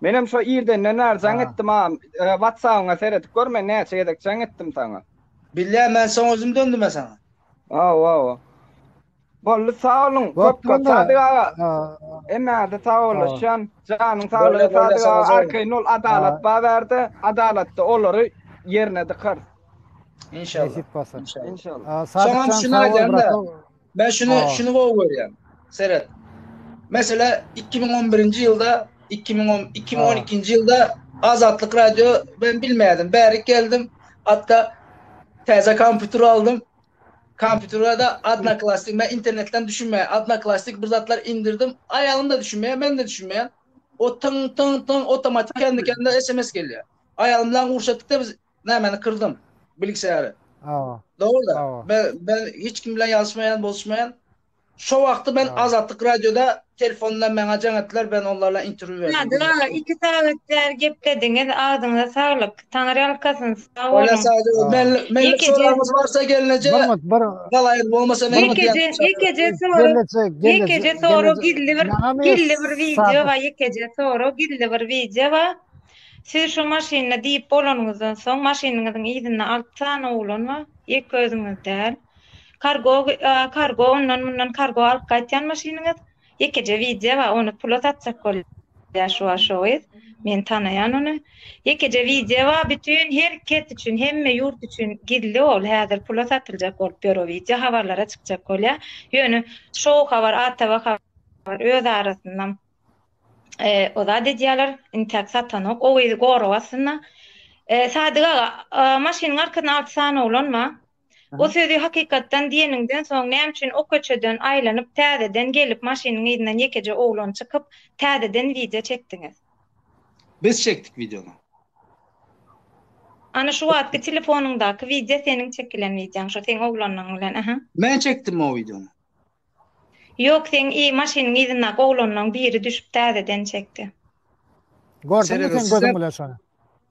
Menem şo irdenden bäri jaň etdim agam. Whatsabyňa seredip gör men näçe gezek jaň etdim saňa. Bilýän men soň özüm döndüm a saňa. Hawa hawa. Boldy sag boluň köp köp Sadyk aga. Hemmäňize sagboluşýan. Janyň saglygy Sadyk aga arkaýyn bol adalat bar bärde adalatda olary ýerine dykarys. Inşallah. Nesip bolsa. Inşallah. Soňam şuny aýdýan-da. Men şunu şunu gowy görýän. Seret. Mesela 2011-nji ýylda 2010 2012-nji ýylda Azatlyk radio ben bilmedim. Bärik geldim. Hatta täze kompýuter aldym. Kompýutere de Adnaklastik men internetden düşünmeýän. Adnaklastik bir zatlar indirdim. Aýalym da düşünmeýär, men de düşünmeýän. O tyn tyn tyn otomatik kendi kendine SMS gelýär. Aýalym bilen urşatdykda biz Nämeni kyrdyň? Bilgisayary. Hawa. Dogryda. Men men hiç kim bilen ýazyşmaýan, boluşmaýan. Şo wagty men Azatlyk radioda telefondan maňa jaň etdiler, ben onlar bilen interwýu berdim. Nadir aga, iki sagat bäri geplediňiz, agzyňyza saglyk. Taňryýalkasyn, sag boluň. Bolýa sag boluň. Men men soragyňyz barsa gelneje. Bolmaz, bir. Galaýyr bolmasa men. Ýekeje, ýekeje sorag. Ýekeje sorag gizli bir, gizli bir wideo bar, ýekeje sorag, gizli bir wideo bar. Siz şo maşynda diýip bolanyňyzdan soň maşynyňyzyň yzynda alty sany oglan bar, ýeke özüňiz däl. Kargo kargo ondan mundan kargo alyp gaýtýan maşynyňyz. Ýekeje wideo bar, ony pula satjak bolýar şu wagt şo gyz. Men tanaýan ony. Ýekeje wideo bar, bütin her kes üçin, hemme ýurt üçin gizli ol. Häzir pula satyljak bolup ýör o wideo, habarlara çykjak bolýar. Ýöne şou habar, ATV habar öz arasynda O zat edýäler, intäk satanok, o gyzy gorap aslynda. Sadyk aga, maşynyň arkasynda alty sany oglan bar. O sözi hakykatdan diýeniňden soň näme üçin o köçeden aýlanyp täzeden gelip maşynyň yzyndan ýekeje oglan çykyp täzeden wideo çekdiňiz? Biz çekdik wideony. Ana şu wagtky telefonyňdaky wideo seniň çekilen wideoň şu seň oglanyň bilen aha. Men çekdim o wideony. Ýok seň i maşynyň yzyna oglanlaň biri düşüp täzeden çekdi. Gördüňmi seň gözüň bilen şony.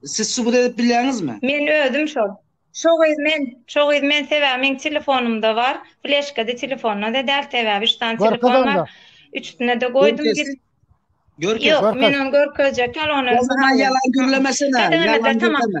Siz subut edip bilýäňizmi? Men özüm şol. Şo gyz men. Şo gyz men sebäbi meň telefonymda bar. Fleşkada telefonada däl sebäbi üç sany telefon bar. Üçüsine-de goýdum gir. Görkez onda. Ýok men ony görkezjek däl ony. Onda ýalan gürlemesene. Ýalan gürleme.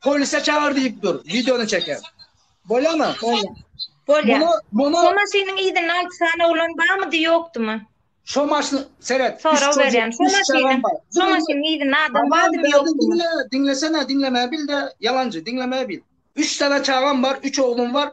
Polise çagyr diýip dur. Wideony çeker. Bolýamy? Bolýar. Bolýar. Muny, muny... Şo maşynyň ýerinde alty sany oglan barmydy, ýokdumy? Şo maşyn, seret. Sorag berýän. Şo maşynyň, şo maşynyň ýerinde adam bardymy, ýokdumy? Diňlesene, diňlemäni bil-de, ýalanjy, diňlemäni bil. Üç sany çagam bar, üç oglum bar,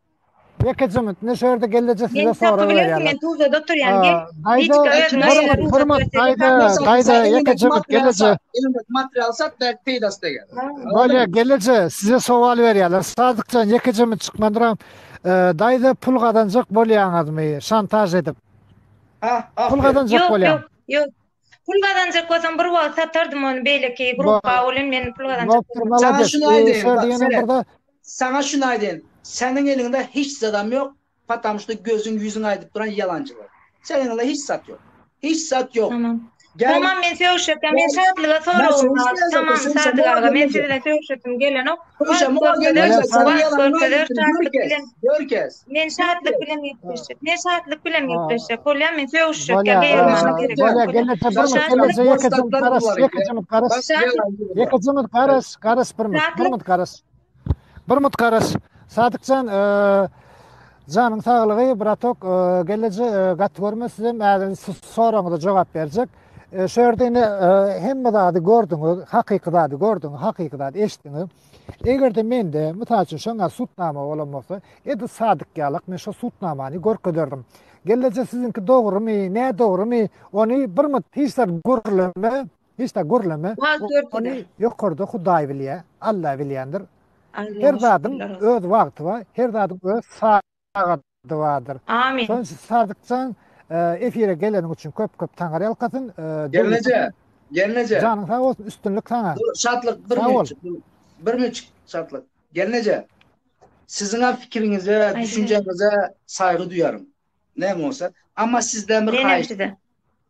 Ýeke jyňyt ne şerde gelleje size sorag berýär. Men Tuzlada oturýan gel. Daýda özüň aýyr. Hormat daýda daýda ýeke jyňyt gelleje. Elinde material sat da peýdasy da gel. Bolýa gelleje size sowal berýärler. Sadykjan ýeke jyňyt çykmandyram. Daýda pul gazanjak bolýaňyzmy şantaž edip. Pul gazanjak bolýan. Ýok ýok. Pul gazanjak bolsam bir wagt satardim ony beýleki gruppa welin men pul gazanjak bolsam. Saňa şuny aýdaýyn seret. Saňa şuny aýdaýyn seniň eliňde hiç zadam ýok patam şuda gözüň ýüzüň aýdyp duran ýalanjylar. Seniň eliňde hiç zat ýok. Hiç zat ýok. Tamam. Tamam men sögşetem men şatlyga soragym bar. Tamam Sadyk aga men siz bilen sögşesim gelenok. Görkez. Görkez. Men şatlyk bilen gepleşjek. Men şatlyk bilen gepleşjek. Bolýa men sögüşjek. Bolýa. Bolýa. Gene bir bir kelle söýekesin garas, ýekesin garas. Ýekesin garas, garas bir bir. Bir bir garas. Bir bir garas. Sadykjan, eee Janyň saglygy, bratok, gelleje gat görme sizem äden soraňyza jogap berjek. Şu ýerde ine hemme zady gördüňiz, hakyky zady gördüňiz, hakyky zady eşitdiňiz. Eger-de mende, mysal üçin, şoňa sutnama bolan bolsa, edil Sadyk ýalak men şo sutnamany görkezerdim. Gelneje siziňki dogrumy, nädogrumy, ony bir mut hiç zat gürleme, hiç zat gürleme, ony ýokarda Hudaý bilýär, Alla bilýändir. Her zadyň öz wagty bar, her zadyň öz sagady. Duadyr. Amin. Sadykjan efire geleniň üçin köp köp taňar ýalkasyn. Gelneje. Gelneje. Janyň sag bolsun üstünlik saňa. Şatlyk bir minut. Bir minut şatlyk. Gelneje. Siziň hem fikiriňize, düşünjäňize saýgy duýaryn. Näme bolsa. Amma sizden bir haýyş.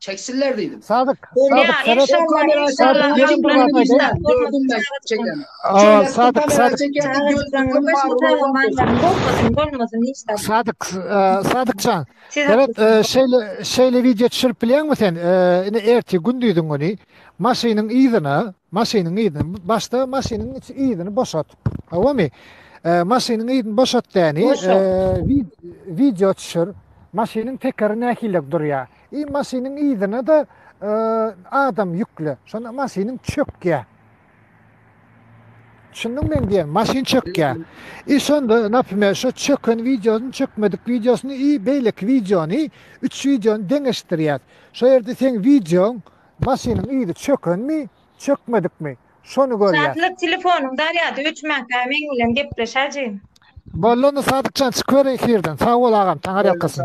Çeksinler diýdim. Sadyk, Sadyk, seret. Sadyk, Sadykjan. Seret, şeýle, şeýle wideo düşürip bilýäňmi sen? Indi ertir gündiziň güni maşynyň yzyna, maşynyň yzyna, başda maşynyň yzyny boşat. Howamy? Maşynyň yzyny boşat däni, wideo düşür. Maşynyň tekeri nähili durýar? I maşynyň yzyna-da adam ýükle. Şonda maşynyň çökýär. Düşündiňmi men diýen? Maşyn çökýär. I şonda, napimer, şo çöken wideosyny, çökmedik wideosyny i beýleki wideony, üç wideony deňeşdirýär. Şo ýerde seň wideoň, maşynyň yzy çökenmi, çökmedikmi, şony görýär. Sadyk, telefonyň zarýady öçmänkä meň bilen gepleş, ajy. Boldy onda Sadykjan, çykyber efirden. Sag bol agam, Taňyrýalkasyn.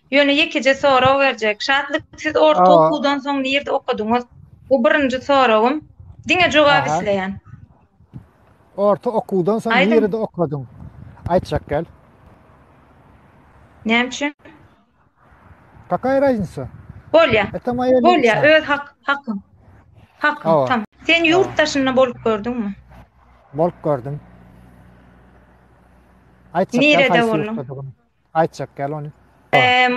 Ýöne ýekeje sorag berjek. Şatlyk siz orta okuwdan soň nirde okadyňyz? Bu birinji soragym. Diňe jogap isleýän. Orta okuwdan soň nirde okadyň? Aýtjak gel. Näme üçin? Kakaý raznica? Bolýa. Bolýa, öz hakyň. Hakyň, tamam. Sen ýurt daşynda bolup gördüňmi? Bolup gördüm. Aýtjak gel haýsy ýurtda? Aýtjak gel ony.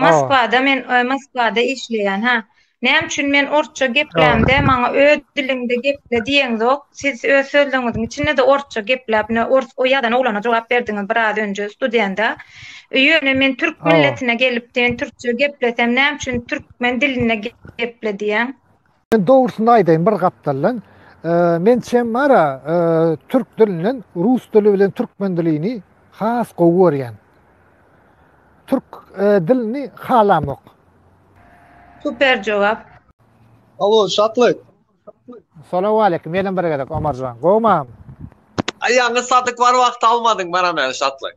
Moskwada men Moskwada işleýän ha. Näme üçin men orsça geplämde maňa öz diliňde geple diýeňzok. Siz öz sözleriňiziň içinde-de orsça gepläp ine ors o ýazan oglana jogap berdiňiz biraz önje studenta. Ýöne men türk milletine gelip men türkçe geplesem näme üçin türkmen dilinde geple diýýäň. Men dogrusyny aýdaýyn bir gapdaldan men çemara türk dilinden rus dili bilen türkmen dilini has gowy görýän. Türk dilini halamok. Super jogap. Alo Şatlyk. Salawaleýkim ýene bir gezek Omarjan gowmam. Aýagyňy satyk bar wagty almadyň bana men Şatlyk.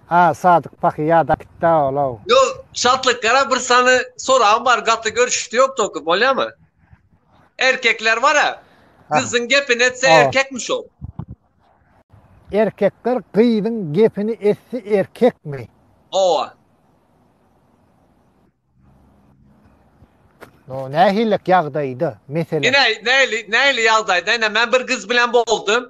A Sadyk pahy ýada gitdä ol-ow. Ýo, Şatlyk gara bir sany soragym bar gaty görüşdi ýok toky bolýamy? Erkekler bara gyzyň gepini etse erkekmi şol? Erkekler gyzyň gepini etse erkekmi? Hawa. No nähilek ýagdaýda mesele? Ine nähili nähili ýagdaýda ine men bir gyz bilen boldum.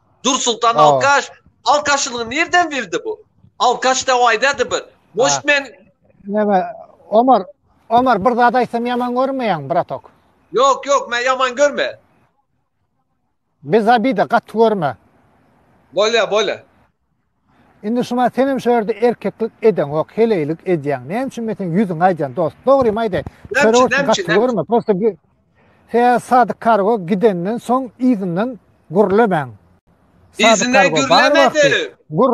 Dursultan alkaş. Alkaşyny nirden bildi bu? Alkaş da aýdady bir. Moş men Näme? Omar, Omar bir zat aýtsam ýaman görmeýäň, bratok. Ýok, ýok, men ýaman görme. Biz abida gaty görme. Bolýa, bolýa. Indi şuma senem şu ýerde erkeklik edeňok, heleýlik edýäň. Näme üçin men seň ýüzüňi aýdýan dost? Dogrymy aýdaý. Çörek üçin gaty görme. Prosta bir Sen Sadyk Kargo gidenden soň yzyndan gürlemäň. Sadyk Kargo bar wagty. Gür.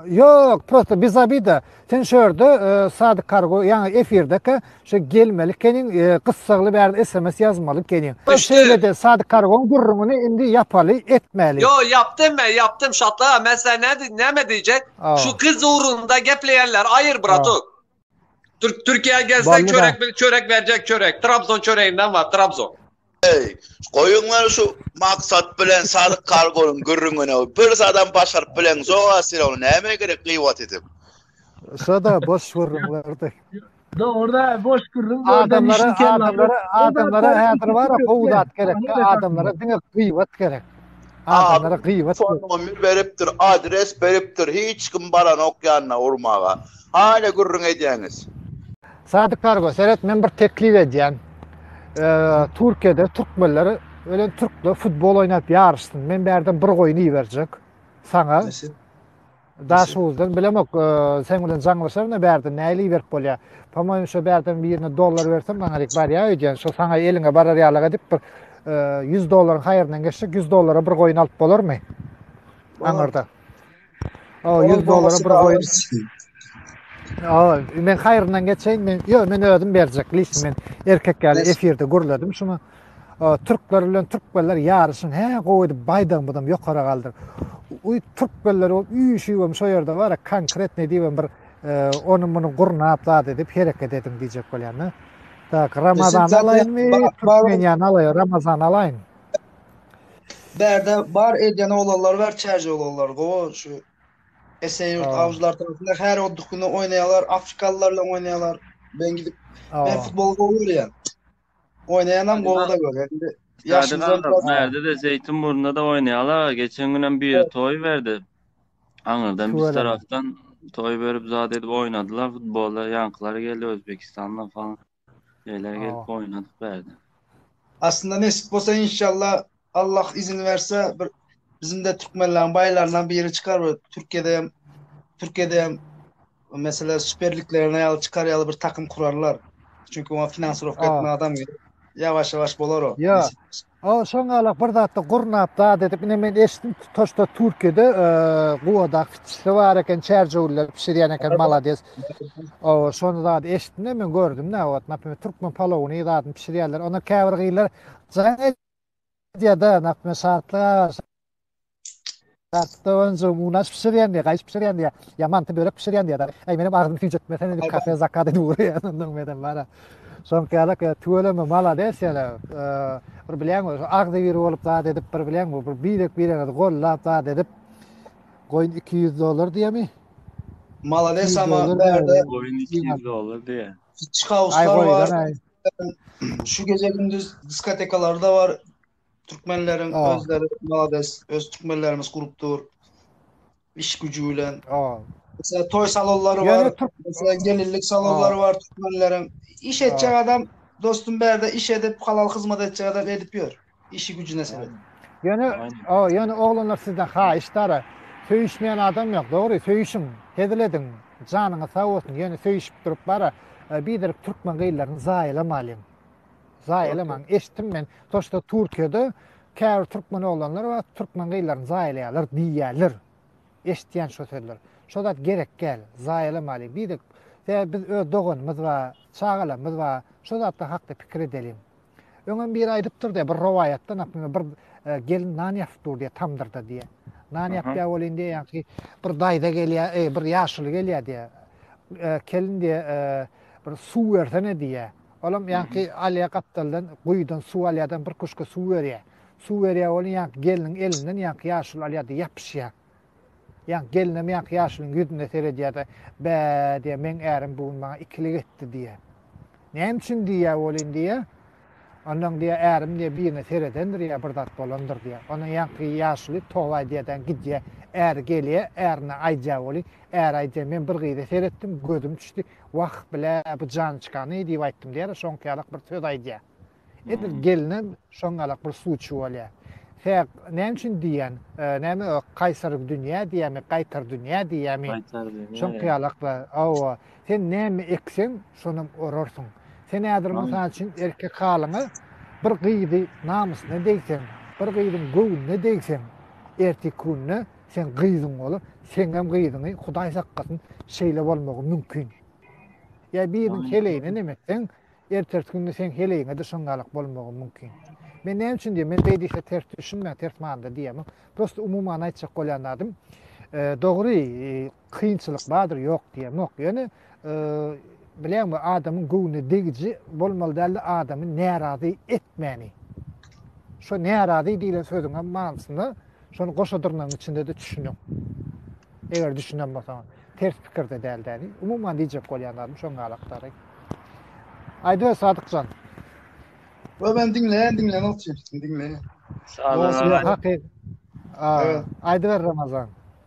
Ýok, prosta bizabida. Sen şu ýerde Sadyk Kargo ýaňy efirdeka şu gelmeli keniň gyssagly bäri sms ýazmaly keniň. Şeýlede Sadyk Kargoň gürrüňini indi ýapaly etmäli. Ýo ýapdym men ýapdym Şatla men size nädip näme diýjek şu gyz ugrunda gepleýänler aýyr bratok. Türkiýä gelseň çörek çörek berjek çörek trabzon çöreginden bar trabzon. Eý, goýuňlar şu maksat bilen sadyk kargonyň gürrüňini. Bir zadam başaryp bileň, Zoga Sirow, näme gerek gyýwat edip? Şada boş gürrüňlerdi. Dogruda boş gürrüň adamlara adamlara adamlara häzir bar gowy zat gerek adamlara diňe gyýwat gerek adamlara gyýwat nomir beripdir adres beripdir hiç kim baranok ýanyna urmaga hala gürrüň edýäňiz Sadyk Kargo seret men bir teklip edýän. Türkiýede türkmenler ölen türkler futbol oýnap ýaryşsyn. Men bärden bir goýun iberjek saňa. Daş uzdan bilemok sen bilen jaňlaşar ne bärden näli iberip bolýar. Pomoýim şo bärden birine dollar bersen maňa dik barýar öýdýän. Şo saňa eliňe barar ýalyk edip bir 100 dollaryň haýyryndan geçjek 100 dollara bir goýun alyp bolarmy? Aňyrda. O 100 dolara bir goýun. O, men haýryndan geçeýin, men ýok, men özüm berjek lişim men. Erkek ýaly efirde gürledim şuny. O, türkler bilen türkmenler ýaryşyň hä gowy edip baýdagymyzam ýokara galdyr. Uý, türkmenler bolup üýşübem şo ýerde bara konkretne diýibem bir e, ony muny gurnap zat edip hereket ediň diýjek bolýan-da. Tak, Ramazan alaýynmy? Türkmen ýany alaýyn, Ramazan alaýyn. Bärde bar edýän oglanlar bar çäje oglanlar gowy şu Eseýurt Aa. awjylar tarapynda her odduk güni oýnaýarlar, afrikalylar bilen oýnaýarlar. Ben gidip Aa. ben futbol gowy görýän. Oýnaýanam gowy da görýän. Indi Ýaşyň Ýaşyň zor zor. Bärde de Zeýtun burnunda da oýnaýarlar. Geçen günem biri Evet. toý berdi. Aňyrdan biz Şüweleňe. tarafdan toý berip zat edip oýnadylar futbolda. Ýaňkylar geldi Özbekistandan falan. Beýleki Awa. gelip oýnadyk bärde. Aslynda nesip bolsa inşallah Allah izin berse bir bizimde türkmenleriň baýlaryndan biri çykar bir Türkiýede hem Türkiýede hem mesela süperliklerine ýaly çykar ýaly bir takym kurarlar. Çünki oňa finansirowka Aa. etme adam gerek. Ýawaş ýawaş bolar o. Ýa. nesip bolsa. O şoňalak bir zatda gurnap zat edip ine men eşitdim tutaşda Türkiýede guwada kiçisi bar eken çärjewiller pişirýän eken malades. O şony zat eşitdim men gördüm ne ot naprimýer türkmen palowyny zadyny pişirýärler. Onda käbir gyzlar jaň edýär-de naprimýer şartlyga Daşdonja unaş bişirýän diýýär, gaýyş bişirýän diýýär, ýa manty börek bişirýän diýýär. Äý menem agzym süýjetmesene diýip kafe zakaz edip ugraýan ondan menem bara. Şoňkaýalak ýa tüweleme malades ýene. Bir bilýäňmi şu agzybir bolup zat edip bir bilýäňmi bir birek bireňizi gollap zat edip goýun iki ýüz dollar diýemi? Malades ama bärde goýun iki ýüz dollar diýýä. Çykauslar bar. Şu gije gündiz diskotekalarda bar. Türkmenleriň özleri malades, öz türkmenlerimiz gurup dur. Iş gücü bilen. Mesela toy salonlary bar. Mesela gelinlik salonlary bar türkmenleriň. Iş etjek adam dostum berde iş edip halal hyzmat etjek adam edip ýör. Işi gücüne sebet. Ýöne, o, ýöne oglanlar sizden haýyş dara. Söýüşmeýän adam ýok, dogry. Söýüşiň, hezil ediň. Janyňyz sag bolsun. Ýöne söýüşip durup bara, biderek türkmen gyzlaryny zaýalamalyň. Zaýalamaň, eşitdim men, toşda Türkiýede käbir türkmen oglanlar bar, türkmen gyzlaryny zaýalaýarlar diýýärler. Eşitýän şo sözler. Şo zat gerek däl, zaýalamaly. Bir de tä biz öz doganymyz bar, çagalarymyz bar, şo zatlar hakda pikir edeliň. Öňem biri aýdypdyr diýýär, bir rowaýatda, naprimýer, bir e, gelin nan ýasyp dur diýýär tamdyrda diýýär. Nan ýapýar bolýan diýýär, ýaňky bir daýza gelýär, e, bir ýaşuly gelýär diýýär. E, kelin diýýär, e, bir suw bersene diýýär. Olam ýaňky alýa gapdaldan guýudan suw alýadan bir kuşka suw berýä. Suw berýä ol ýaňky gelniň elinden ýaňky ýaşuly alýada ýapyşýa. Ýaňky gelinem ýaňky ýaşulyň ýüzüne seredýada bä diýä meň ärim bu gün maňa ikilik etdi diýä. Näme üçin diýä welin diýä. Ondan diýä ärim diýä birine seredendir ýa bir zat bolandyr diýä. Ondan ýaňky ýaşuly toba aýdýadan gidýä. Äri gelýä ärine aýdýa welin äri aýdýa men bir gyza seretdim gözüm düşdi. Wah, bile, bu jançkany, diýip aýtdym diýer, şoňky ýalak bir söz aýdýar. Edil gelne şoň ýalak bir suw içip alýar. Hä, näme üçin diýýän, näme o, kaýsary dünýä diýýärmi, gaýtar dünýä diýýärmi? Gaýtar dünýä. Şoňky ýalak bir, hawa, sen näme ekseň, şonam orarsyň. Sen häzir, mysal üçin, erkek halyňa bir gyzy namysyna degseň, bir gyzyň göwnüne degseň, erteki günde Sen gyzyň bolar. Seňem gyzyňy Hudaý saklasyn, şeýle bolmagy mümkin. Ýa biriniň heleýine näme etseň, ertesi günde seň heleýiňe-de şoň ýalak bolmagy mümkin. Men näme üçin diýýän, men beý diýse ters düşünmäň, ters manyda diýemok. Prosta umumana aýtjak bolýan zadym, dogry, kynçylyk bardyr ýok diýemok. Ýöne bileňmi adamyň göwnüne degiji bolmaly däldi adamy närazy etmäni. Şo närazy diýlen sözüň hem manysyna şony goşa dyrnagyň içinde de düşüniň. Eger düşünen bolsaň, ters pikirde däl däli. Umuman diýjek bolýan zadym şoň alakdary. Aýda Sadykjan. Wa men diňleýän diňleýän otyr, diňleýän. Sag bol. Aýda Ramazan.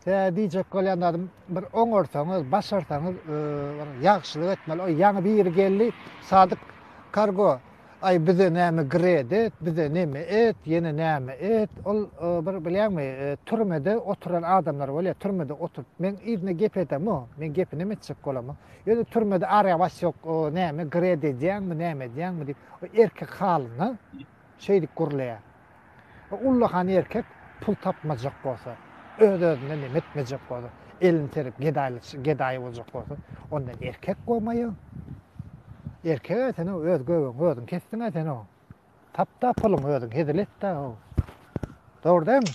Tä diýjek bolýan zadym, bir oňarsaňyz, başarsaňyz, e, bir ýagşylyk etmeli. O ýaňy biri geldi, Sadyk kargo, aý bize näme gred et, bize näme et, ýene näme et. Ol e, bir bilýäňmi, e, türmede oturan adamlar bolýar, türmede oturyp. Men yzyna gep edemok, men gepi näme etjek bolamok. Ýöne türmede arýa bas ýok, o näme gred edýäňmi, näme edýäňmi diýip, o erkek halynda şeýdip gürleýär. Bu ullakan erkek pul tapmajak bolsa, öz-özünden hem etmejek bolsa, elini serip gedaýlyk, gedaý boljak bolsa, onda erkek gomaýyň. Erkeg-ä sen o, öz göbegiňi özüň kesdiň-ä sen o. Tap-da puluňy özüň, hezil et-de o. Dogry dämi?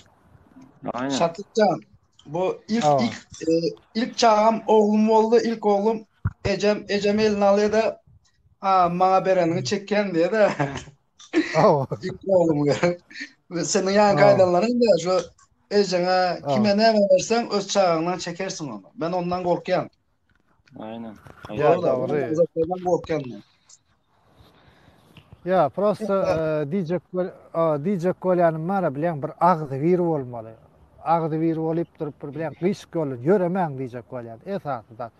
Aýna. Şatytjan, bu ilk, Awa. ilk, e, ilk çagam oglum boldy, ilk oglum ejem, ejem elini alýa-da, a, maňa bereniňi çekýän diýä-de. Dik oglum ýa. Seniň ýaňky aýdanlaryň da şu ejeňe kime näme berseň öz çagaňdan çekersiň ony. Men ondan gorkýan. Aýna. Ýa dogry. Ondan gorkýan men. Ýa prosta diýjek diýjek bolýanym bara bileň bir agzy bir bolmaly. Agzy bir bolup durup bir bileň gyşyk ýoly ýöremäň diýjek bolýan. Esasy zat.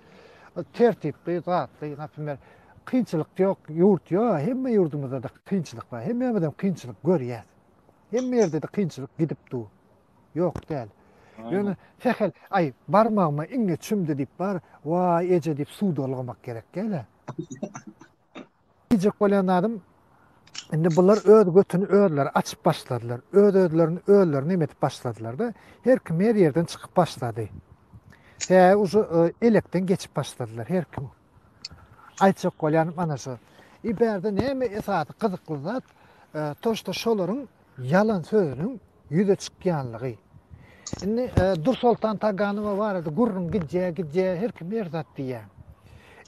Tertipli, zatly, naprimýer Kynçylyk ýok ýurt ýo hemme ýurdumyzdada kynçylyk bar hemmämizem kynçylyk görýäs hemme ýerdede kynçylyk gidip dur ýok däl ýöne sähel aý barmagyma iňňe çümdi diýip bar waý eje diýip suw dolgamak gerek däl a diýjek bolýan zadym indi bular öz götüni özleri açyp başladylar öz özlerini özleri neme edip başladylarda her kim her ýerden çykyp başlady hä uju e, elekden geçip başladylar her kim Aýtjak bolýanym ana şu. I bärde näme esasy gyzykly zat, toşda şolaryň ýalan sözüniň ýüze çykýanlygy. Indi Dursoltan Taganowa barada gürrüň gidýä, gidýä, her kim her zat diýýä.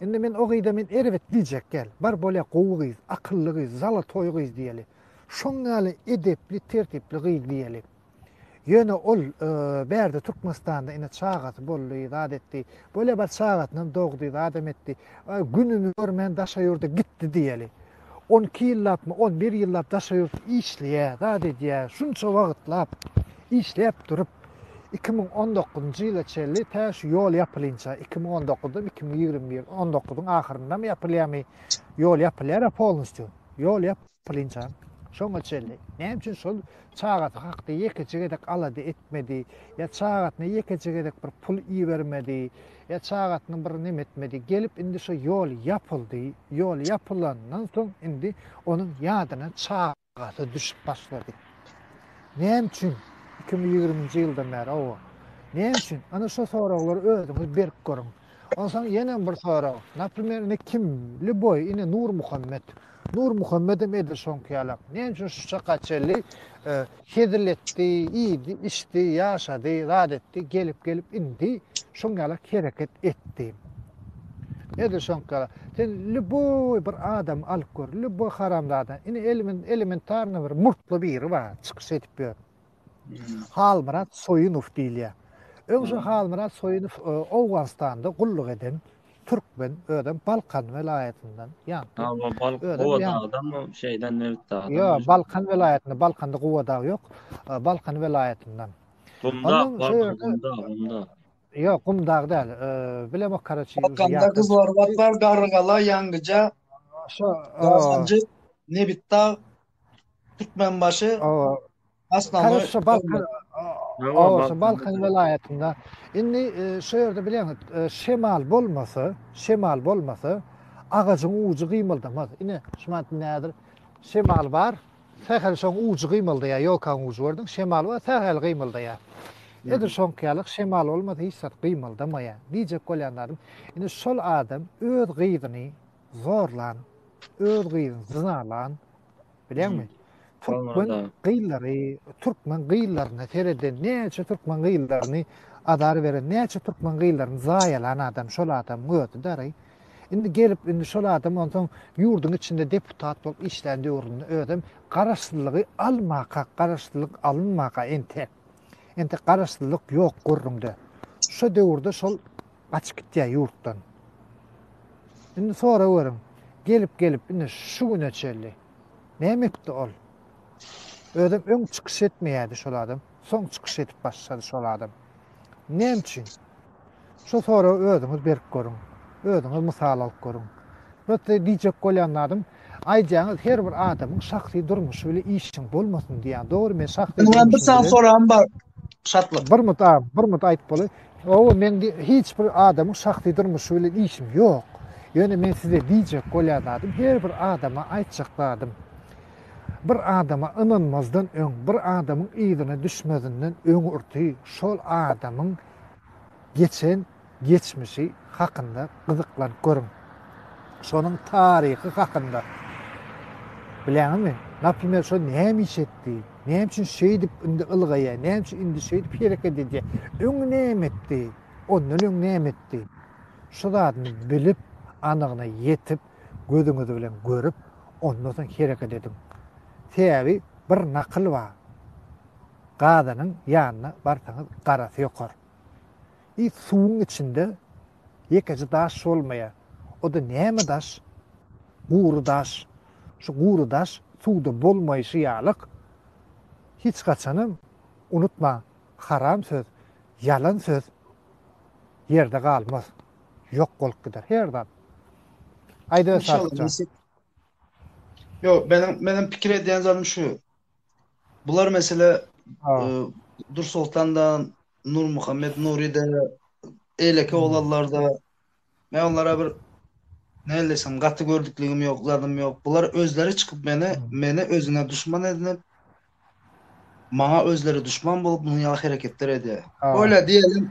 Indi men o gyza men erbet diýjek däl. Bar bolýa gowy gyz, akylly gyz, zalatoý gyz diýeli. Şoň ýaly edepli, tertipli gyz diýeli. Ýöne ol bärde Türkmenistanda ine çagasy boldy, zat etdi. Bolýa bir çagasynam dogdy, zadam etdi. Gününi görmän daşa ýurda gitdi diýeli. On iki ýyllapmy, on bir ýyllap daşa ýurt işleýä, zat edýä. Şunça wagtlap işläp durup, iki müň on dokuzynjy ýyla çenli tä şu ýol ýapylinça, iki müň on dokuzdam, iki müň ýigrimi bir, on dokuzyň ahyryndam ýapylýamy, ýol ýapylýar-a polnusýu. Ýol ýap. Pylinjan, şoňa çenli näme üçin şol çagasy hakda ýekeje gezek alada etmedi, ýa çagasyna ýekeje gezek bir pul ibermedi, ýa çagasyna bir neme etmedi, gelip indi şo ýol ýapyldy, ýol ýapylandan soň indi onuň ýadyna çagasy düşüp başlady. Näme üçin iki müň ýigriminji ýyldan bäri oba? Näme üçin? Ana şo soraglar özüňiz berip görüň. Onsoň ýenem bir sorag. Naprimer, indi kim? Lýuboý, indi Nurmuhammet. Nurmuhammedem edil şoňky ýalak. Näme üçin şu çaka çenli hezil etdi, iýdi, içdi, ýaşady, zat etdi, gelip-gelip indi şoň ýalak hereket etdi. Edil şoňky ýalak. Sen lýuboý bir adamy alyp gör, lýuboý haramzada. Indi elementarny bir murtly biri bar, çykyş edip ýör. Halmyrat Soýunow diýilýär. Öň şu Halmyrat Soýunow Owganystanda gulluk eden türkmen, özem Balkan welaýatyndan. Ýa-da Gowadagydanmy, şeýden nebit dagdanmy? Ýok, Balkan welaýatyndan, Balkanda Gowadag ýok, Balkan welaýatyndan. Gumdag bardyr, Gumdag, Gumdag. Ýok, Gumdag däl, bilemok karaçi. Balkanda Gyzylorbat bar, Garrygala, Ýangyja, Gazanjyk, Nebitdag, Türkmenbaşy. Aslamy Täze şu Balkan Hawa, şu Balkan welaýatynda. Indi şu ýerde bilýäňiz, şemal bolmasa, şemal bolmasa, agajyň ujy gymyldamaz. Ine, şu wagt nädir? Şemal bar, sähel şoň ujy gymyldaýar, ýolkaň ujy gördüň, şemal bar, sähel gymyldaýar. Edil şoňky ýaly şemal bolmasa hiç zat gymyldamaýar. Diýjek bolýan zadym, indi şol adam öz gyzyny zorlan, öz gyzyny zynalan, Bileňmi? Türkmen gyzlary, türkmen gyzlaryna sereden, näçe türkmen gyzlaryny azar beren, näçe türkmen gyzlaryny zaýalan adam, şol adam gözi dary. Indi gelip, indi şol adam onsoň ýurduň içinde deputat bolup işlän döwründe özüm garaşsyzlygy almaka, garaşsyzlyk alynmaka ente. Ente garaşsyzlyk ýok gürrüňde. Şu döwürde şol Gaçyp gitýär ýurtdan. Indi soragöriň, gelip gelip ine şu güne çenli näme etdi ol? Özem öň çykyş etmeýärdi şol adam, soň çykyş edip başlady şol adam. Näme üçin? Şu soragy özüňiz berip görüň. Özüňiz mysal alyp görüň. Prosta diýjek bolýan zadym, aýdýaňyz her bir adamyň şahsy durmuşy bilen işiň bolmasyn diýýän. Dogry men şahsy durmuşym bilen. Maňa bir sany soragym bar. Şatlyk. Bir mut agam, bir mut aýdyp bolaý. Hawa, meň hiç bir adamyň şahsy durmuşy bilen işim ýok. Ýöne men size diýjek bolýan zadym, her bir adama aýtjak zadym, bir adama ynanmazdan öň, bir adamyň yzyna düşmezinden öňürti şol adamyň geçen geçmişi hakynda gyzyklanyp görüň. Şonuň taryhy hakynda. Bilýäňizmi? Naprimer, şo näme iş etdi? Näme üçin şeýdip indi ylgaýar? Näme üçin indi şeýdip hereket edýär? Öň näme etdi? Ondan öň näme etdi? Şu zadyny bilip, anygyna ýetip, gözüňiz bilen görüp, ondan soň hereket ediň. Sebäbi bir nakyl bar. Gazynyň ýanyna barsaňyz garasy ýokar. Suwuň içinde Ýekeje daş bolmaýa. O-da näme daş? Gury daş. Şu gury daş suwda bolmaýşy ýalyk. Hiç haçanam, unutmaň, haram söz, ýalan söz ýerde galmaz. Ýok bolup gider her zat. Aýda Sadyk jan. Ýok, meniň, meniň pikir edýän zadym şu. Bular mesele Dursoltanda, Nurmuhammet Nuride, eýleki oglanlarda men onlara bir näle diýsem gaty gördükligim ýok, zadym ýok. Bular özleri çykyp meni, meni özüne duşman edinip, maňa özleri duşman bolup, munuň ýaly hereketler edýär. Öýle diýelim,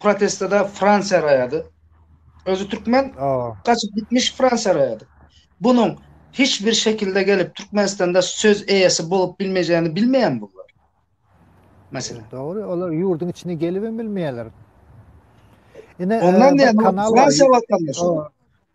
protestada Fransiýa raýady. Özi türkmen gaçyp gitmiş Fransiýa raýady. Bunuň hiç bir şekilde gelip Türkmenistanda söz eýesi bolup bilmejegini bilmeýän bu. Mesela. Dogry, olar ýurduň içine gelip hem bilmeýärler. Ine, ondan diýen Fransiýa watandaşy.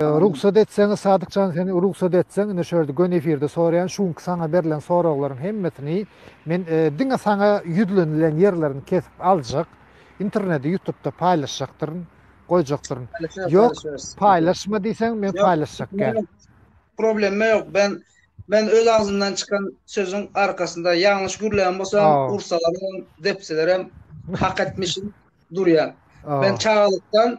Rugsat etseňiz Sadyk jan sen rugsat etseň ine şu ýerde göni efirde soraýan şu günki saňa berlen soraglaryň hemmesini men diňe saňa ýüzlenilen ýerlerini kesip aljak internede ýutupda paýlaşjakdyryn goýjakdyryn ýok paýlaşma diýseň men paýlaşjak gel problema ýok ben men öz agzymdan çykan sözüň arkasynda ýalňyş gürleýän bolsam ursalarem depselerem hak etmişim durýan men çagalykdan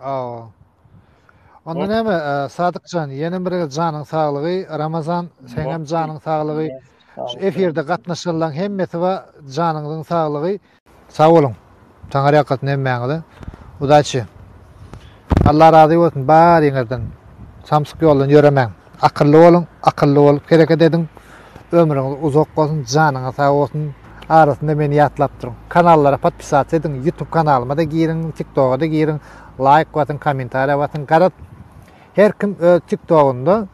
Aw. Onda näme, Sadykjan, ýene bir gezek janyň saglygy, Ramazan, seňem janyň saglygy, şu efirde gatnaşanlaň hemmesi ba janyňyzyň saglygy. Sag boluň, Taňar ýalkasyn hemmäňize. Udaçi. Allah razy bolsun bariňizden. Samsyk ýoldan ýöremäň. Akylly boluň, akylly bolup hereket ediň. Ömrüňiz uzak bolsun, janyňyz sag bolsun. Arasynda meni ýatlap duruň. Kanallara podpisasiýa ediň, ýutub kanalyma-da giriň, tiktoga-da giriň, laýk basyň, kommentariýa basyň. Garaz, her kim öz tiktogunda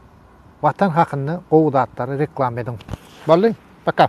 Watan hakynda gowy zatlary reklama ediň. Boldy, paka!